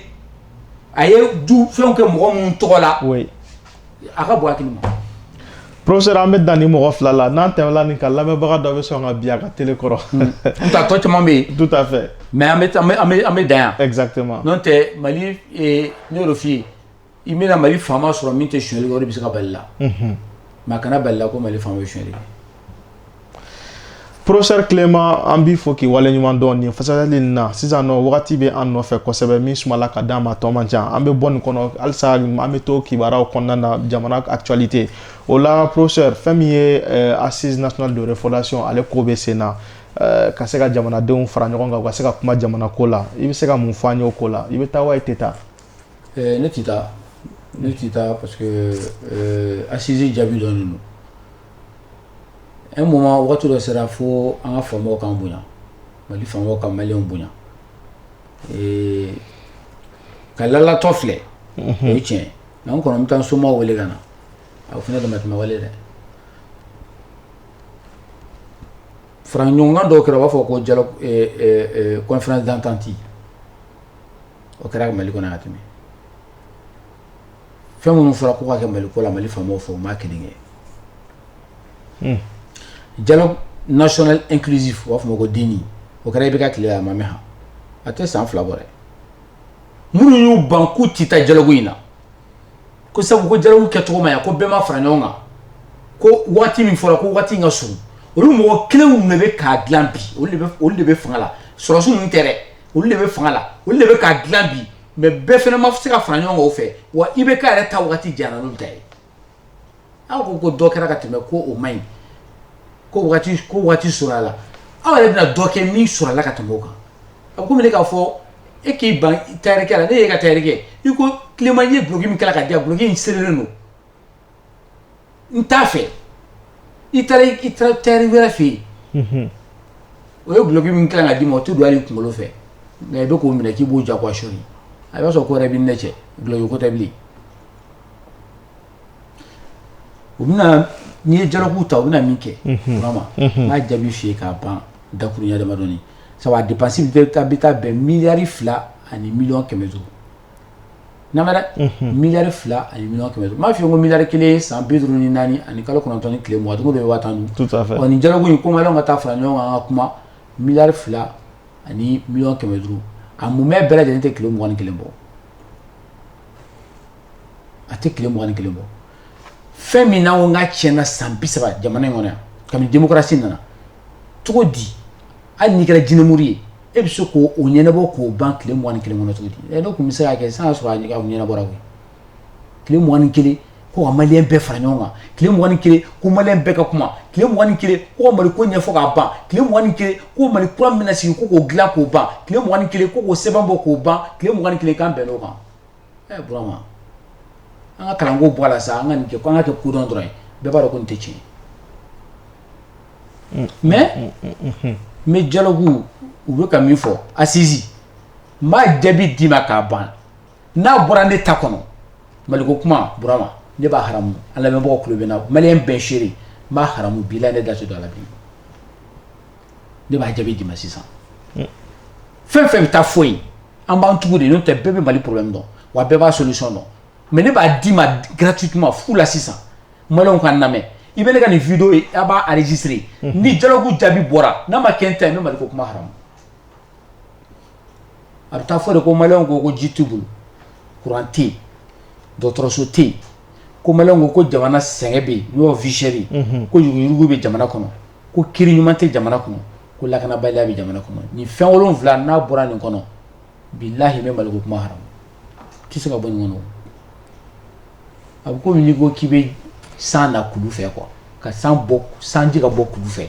a ye du fɛnw kɛ mɔgɔ minnu tɔgɔ la o ye a ka bon hakili ma professeur an bɛ dan ni mɔgɔ fila la n'an tɛmɛla nin kan lamɛnbaga dɔ bɛ sɔn ka bin a ka tele kɔrɔ n ta tɔ caman bɛ yen tout à fait mais an bɛ an bɛ an bɛ dan yan exactement n'o tɛ mali eh, n y'o de f'i ye i bɛna mali faama sɔrɔ min tɛ sonyali kɛ o de bɛ se ka bal'i la mais a kana bal'i la ko mali faama bɛ sonyali kɛ Professeur Clément an b'i fo k'i waleɲuman dɔn nin fasali nin na sisan nɔ wagati bɛ an nɔfɛ kosɛbɛ min sumala ka d'an ma tɔ man ca an bɛ bɔ nin kɔnɔ halisa an bɛ to kibaruyaw kɔnɔna na jamana actualité o la professeur fɛn min ye euh, assise nationale de refondation ale ko bɛ sen na euh, ka se ka jamanadenw fara ɲɔgɔn kan u ka se ka kuma jamana ko la i bɛ se ka mun fɔ an ye o ko la i bɛ taa wa i tɛ taa euh, ne tɛ taa ne tɛ taa parce que assise jaabi dɔnnen don Un moment waati dɔ sera fo an ka faamaw k'an bonya mali faamaw ka maliyɛnw bonya ee ka lalatɔ filɛ o ye tiɲɛ an kɔni bɛ taa somaw wele ka na a fana damatɛmɛ wale dɛ fara ɲɔgɔn kan dɔw kɛra u b'a fɔ ko conférence d'entente o kɛra mali kɔnɔ yan ka tɛmɛ fɛn minnu fɔra ko ka kɛ Mali ko la Mali faamaw fɛ u m'a kelen kɛ hmm. dialogue national inclusif u b'a fɔ ma ko DNI o kɛra IBK tile la a ma mɛn han a tɛ san fila bɔ dɛ minnu y'u ban k'u tɛ taa dialogue in na ko sabu ko dialogue kɛcogo ma ɲa ko bɛɛ ma fara ɲɔgɔn kan ko waati min fɔra ko waati in ka surun olu mɔgɔ kelenw de bɛ k'a dilan bi olu de bɛ fanga la sɔrɔsiw ninnu tɛ dɛ olu de bɛ fanga la olu de bɛ k'a dilan bi mais bɛɛ fana ma se ka fara ɲɔgɔn kan o fɛ wa IBK yɛrɛ ta waati janyana n'olu ta ye aw ko ko dɔ kɛra ka tɛmɛ ko o man ɲi ko waati surun a la aw yɛrɛ bɛna dɔ kɛ min surun a la ka tɛmɛ o kan a bɛ komi ne k'a fɔ e k'i ban tayɛrikɛ la ne y'e ka tayɛrikɛ i ko Clément ye duloki min kala ka di yan duloki in serelen don n t'a fɛ i taara i taara tayɛri wɛrɛ fɛ yen o ye duloki min kala ka d'i ma o tɛ don hali i kunkolo fɛ nka i bɛ k'o minɛ k'i b'o jagoya sɔri a b'a sɔrɔ ko wɛrɛ b'i n'a cɛ duloki ko tɛ bilen o bɛ na n'i ye dialogue ta u bɛna min kɛ n b'a jaabi f'i ye k'a ban dakurunɲɛ damadɔnin sabu a dépense bɛ taa bɛn miliyari fila ani miliyɔn kɛmɛ duuru miliyari fila ani miliyɔn kɛmɛ duuru n b'a fɔ ko miliyari kelen san bi duuru ni naani ani kalo kɔnɔntɔn ni tile mugan dugu bɛ waa tan nin dialogue in ko maliyɛnw ka taa fara ɲɔgɔn kan ka kuma miliyari fila ani miliyɔn kɛmɛ duuru a mumɛ bɛɛ lajɛlen tɛ tile mugan ni kelen bɔ a tɛ tile mugan ni kelen bɔ fɛn min n'an k'a tiɲɛna san bi saba jamana in kɔnɔ yan kabini démocratie nana cogo di hali n'i kɛra jinɛmuru ye e bɛ se k'o ɲɛnabɔ k'o ban tile mugan ni kelen kɔnɔ cogo di dɔw tun bɛ se ka kɛ san sɔrɔ a ɲɛnabɔ koyi tile mugan ni kelen ko ka maliyɛn bɛɛ fara ɲɔgɔn kan tile mugan ni kelen ko maliyɛn bɛɛ ka kuma tile mugan ni kelen ko ka mali ko ɲɛfɔ k'a ban tile mugan ni kelen ko mali kura min bɛna sigi ko k'o dilan k'o ban tile mugan ni kelen ko k'o sɛbɛn bɔ k'o ban tile mugan ni kelen k'an bɛn o kan Ɛ Burama an ka kalanko bɔ a la sa an ka nin kɛ ko an ka kɛ kodɔn dɔrɔn ye bɛɛ b'a dɔn ko nin tɛ tiɲɛ ye mais mais dialogue u bɛ ka min fɔ assise n b'a jaabi d'i ma k'a ban n'a bɔra ne ta kɔnɔ Maliko kuma Burama ne b'a haramu an lamɛnbagaw tulo bɛ n na maliyɛn bɛɛ seere n b'a haramu bilahi ne da tɛ don a la bilen ne b'a jaabi d'i ma sisan fɛn fɛn bɛ taa fɔ yen an b'an tugu de n'o tɛ bɛɛ bɛ Mali problème dɔn wa bɛɛ b'a solution dɔn mais ne b'a d'i ma gratuitement fu la sisan maliyɛnw ka n lamɛn i bɛ ne ka nin video ye a b'a enregistrer ni dialogue jaabi bɔra n'a ma kɛ n ta ye n bɛ Mali ko kuma haramu a bɛ taa fɔ de ko maliyɛnw ko ko ji t'u bolo courant tɛ yen dɔgɔtɔrɔso tɛ yen ko maliyɛnw ko ko jamana sɛgɛn bɛ yen n'o ye vie chère ye ko yuruguyurugu bɛ jamana kɔnɔ ko kiiri ɲuman tɛ jamana kɔnɔ ko lakanabaliya bɛ jamana kɔnɔ nin fɛn wolonwula n'a bɔra nin kɔnɔ bilahi n bɛ mali ko kuma haramu a tɛ se ka bɔ nin kɔnɔ a bɛ komi n'i ko k'i bɛ san na kulu fɛ quoi ka sanji ka bɔ kulu fɛ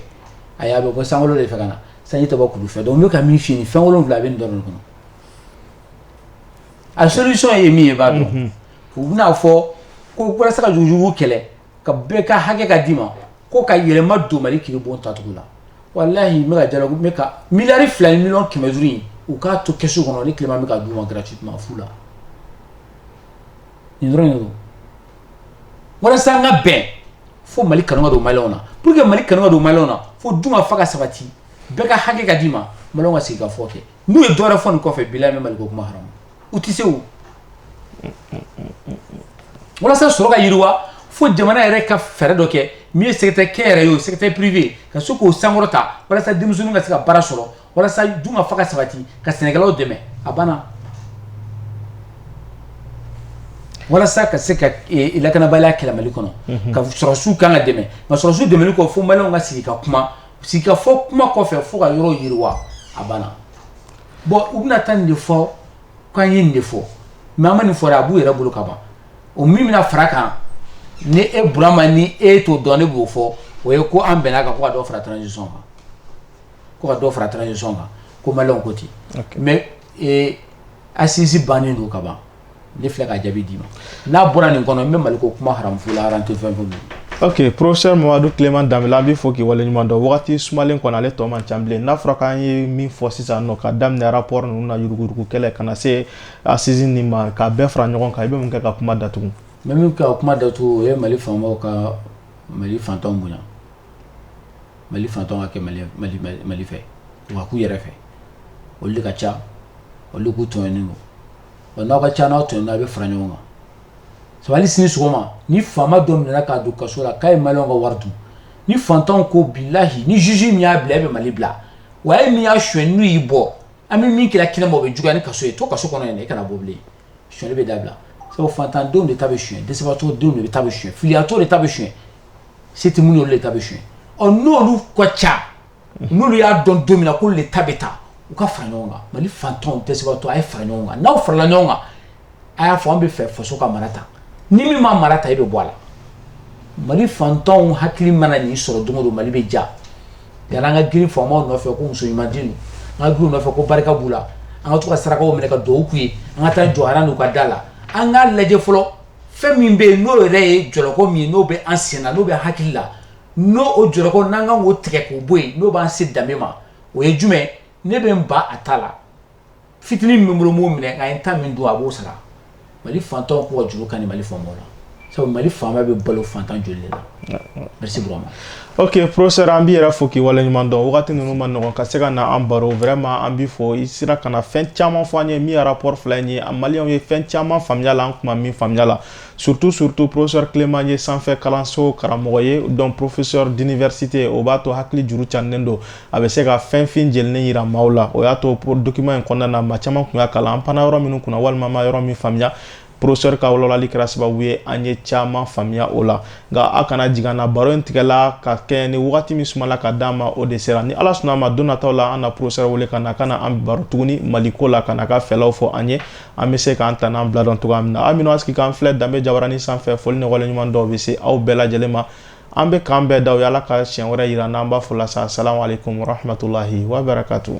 ayi a bɛ bɔ san de fɛ ka na sanji tɛ bɔ kulu fɛ donc n bɛ ka min f'i ye nin fɛn wolonwula a bɛ nin dɔrɔn kɔnɔ a solution ye min ye i b'a dɔn u bɛna a fɔ ko walasa ka yuruguyurugu kɛlɛ ka bɛɛ ka hakɛ ka d'i ma ko ka yɛlɛma don mali kiiribon tacogo la walahi n bɛ dialogue bɛ ka miliyari fila ni miliyɔn kɛmɛ duuru in u k'a to kɛsu kɔnɔ ne Clément bɛ k'a d'u ma gratuitement fu la nin dɔrɔn don walasa an ka bɛn fo mali kanu ka don maliyɛnw na pour que mali kanu ka don maliyɛnw na fo dun ka fa ka sabati bɛɛ ka hakɛ ka d'i ma maliyɛnw ka sigi ka fɔ kɛ n'u ye dɔwɛrɛ fɔ nin kɔfɛ bilahi n bɛ mali ko kuma u tɛ se o walasa sɔrɔ ka yiriwa fo jamana yɛrɛ ka fɛɛrɛ dɔ kɛ min ye secteur kɛnyɛrɛye o secteur privé ka se k'o sankɔrɔta walasa denmisɛnninw ka se ka baara sɔrɔ walasa dun ka fa ka sabati ka sɛnɛkɛlaw dɛmɛ a banna walasa ka se ka lakanabaliya kɛlɛ mali kɔnɔ ko sɔrɔdasiw ka kan ka dɛmɛ nka sɔrɔdasiw dɛmɛli kɔ fo maliyɛnw ka sigi ka kuma sigi ka fɔ kuma kɔfɛ fo ka yɔrɔ yiriwa a banna Bon u bɛna taa nin de fɔ k'an ye nin de fɔ mais an ma nin fɔ dɛ a b'u yɛrɛ bolo ka ban o min bɛna fara kan ni e Burama ni e t'o dɔn ne b'o fɔ o ye ko an bɛnna kan ko ka dɔ fara transition kan ko ka dɔ fara transition kan ko maliyɛnw ko ten mais assise bannen don ka ban ne filɛ ka jaabi d'i ma n'a bɔra nin kɔnɔ n bɛ mali ko kuma haramu fo la aran tɛ fɛn fɛn ok professeur Mamadu Clément Danbɛlɛ an b'i fo k'i waleɲuman dɔn wagati sumalen kɔnɔ ale tɔ man ca bilen n'a fɔra k'an ye min fɔ sisan nɔ ka daminɛ rapport ninnu na yuruguyurugu kɛlɛ ka na se assise nin ma k'a bɛɛ fara ɲɔgɔn kan i bɛ mun kɛ ka kuma datugu n bɛ min kɛ ka kuma datugu o ye mali faamaw ka mali fantanw bonya mali fantanw ka kɛ mali mali mali fɛ wa k'u yɛrɛ fɛ olu de ka ca olu de k'u tɔɲɔnen don wa n'aw ka ca n'aw tɔɲɔna aw bɛ fara ɲɔgɔn kan sabu hali sini sɔgɔma ni faama dɔ minɛna k'a don kaso la k'a ye maliyɛnw ka wari dun ni fantanw ko bilahi ni juge min y'a bila e bɛ mali bila wa e min y'a suyɛn n'u y'i bɔ an bɛ min k'i la kɛnɛma o bɛ juguya ni kaso ye to kaso kɔnɔ yen e kana bɔ bilen suyɛnli bɛ dabila sabu fantandenw de ta bɛ suyɛn dɛsɛbagatɔ denw de ta bɛ suyɛn filiyatɔw de ta bɛ suyɛn se tɛ minnu de ta bɛ suyɛn ɔ n'olu ka ca n'olu y'a dɔn don min na k'olu de ta bɛ taa u ka fara ɲɔgɔn kan Mali faantanw dɛsɛbagatɔw a ye fara ɲɔgɔn kan n'aw farala ɲɔgɔn kan a y'a fɔ an bɛ fɛ faso ka mara tan ni min ma mara ta e bɛ bɔ a la Mali faantanw hakili mana nin sɔrɔ don o don Mali bɛ diya yan'an ka girin faamaw nɔfɛ ko muso ɲuman di ninnu an ka girin u nɔfɛ ko barika b'u la an ka to ka sarakaw minɛ ka duwawu k'u ye an ka taa jɔ aran n'u ka da la an k'a lajɛ fɔlɔ fɛn min bɛ yen n'o yɛrɛ ye jɔlɔkɔ min ye n'o bɛ an sen na n'o bɛ hakili la n'o o jɔlɔkɔ n'an ka o tigɛ k'o bɔ yen n'o b'an se danbe ma o ye jumɛn ne bɛ n ba a ta la fitinin min bolo b'o minɛ a ye ta min don a b'o sara mali faantanw k'u ka juru kani mali faamaw la sabu mali faama bɛ balo faantan joli de la merci Burama ok professeur an b'i yɛrɛ fo k'i waleɲuman dɔn wagati ninnu man nɔgɔn ka se ka na an baro vraiment an b'i fo i sera ka na fɛn caman fɔ an ye min ye rapport fila in ye maliyɛnw ye fɛn caman faamuya a la an tun ma min faamuya a la Surtout surtout professeur Clément ye sanfɛ kalanso karamɔgɔ ye donc professeur d'université o b'a to hakili juru cannen don a bɛ se ka fɛn fin jɛlen jira maaw la o y'a to document in kɔnɔna na maa caman tun y'a kalan an panna yɔrɔ minnu kunna walima an ma yɔrɔ min faamuya professeur ka walawalali kɛra sababu ye an ye caman faamuya o la nka a kana jigin an na baro in tigɛla ka kɛɲɛ ni wagati min sumala ka d'an ma o de sera ni ala sɔnna a ma don nataw la an na professeur wele ka na ka na an baro tuguni maliko la ka na ka fɛlaw fɔ an ye an bɛ se k'an ta n'an bila dɔn cogoya min na aw minnu a sigi k'an filɛ danbe jabaranin sanfɛ foli ni waleɲuman dɔn bɛ se aw bɛɛ lajɛlen ma an bɛ k'an bɛɛ da o y'ala ka siɲɛ wɛrɛ yira an na an b'a fɔ la sa salamu aleykum warahmatulahi wabarakatu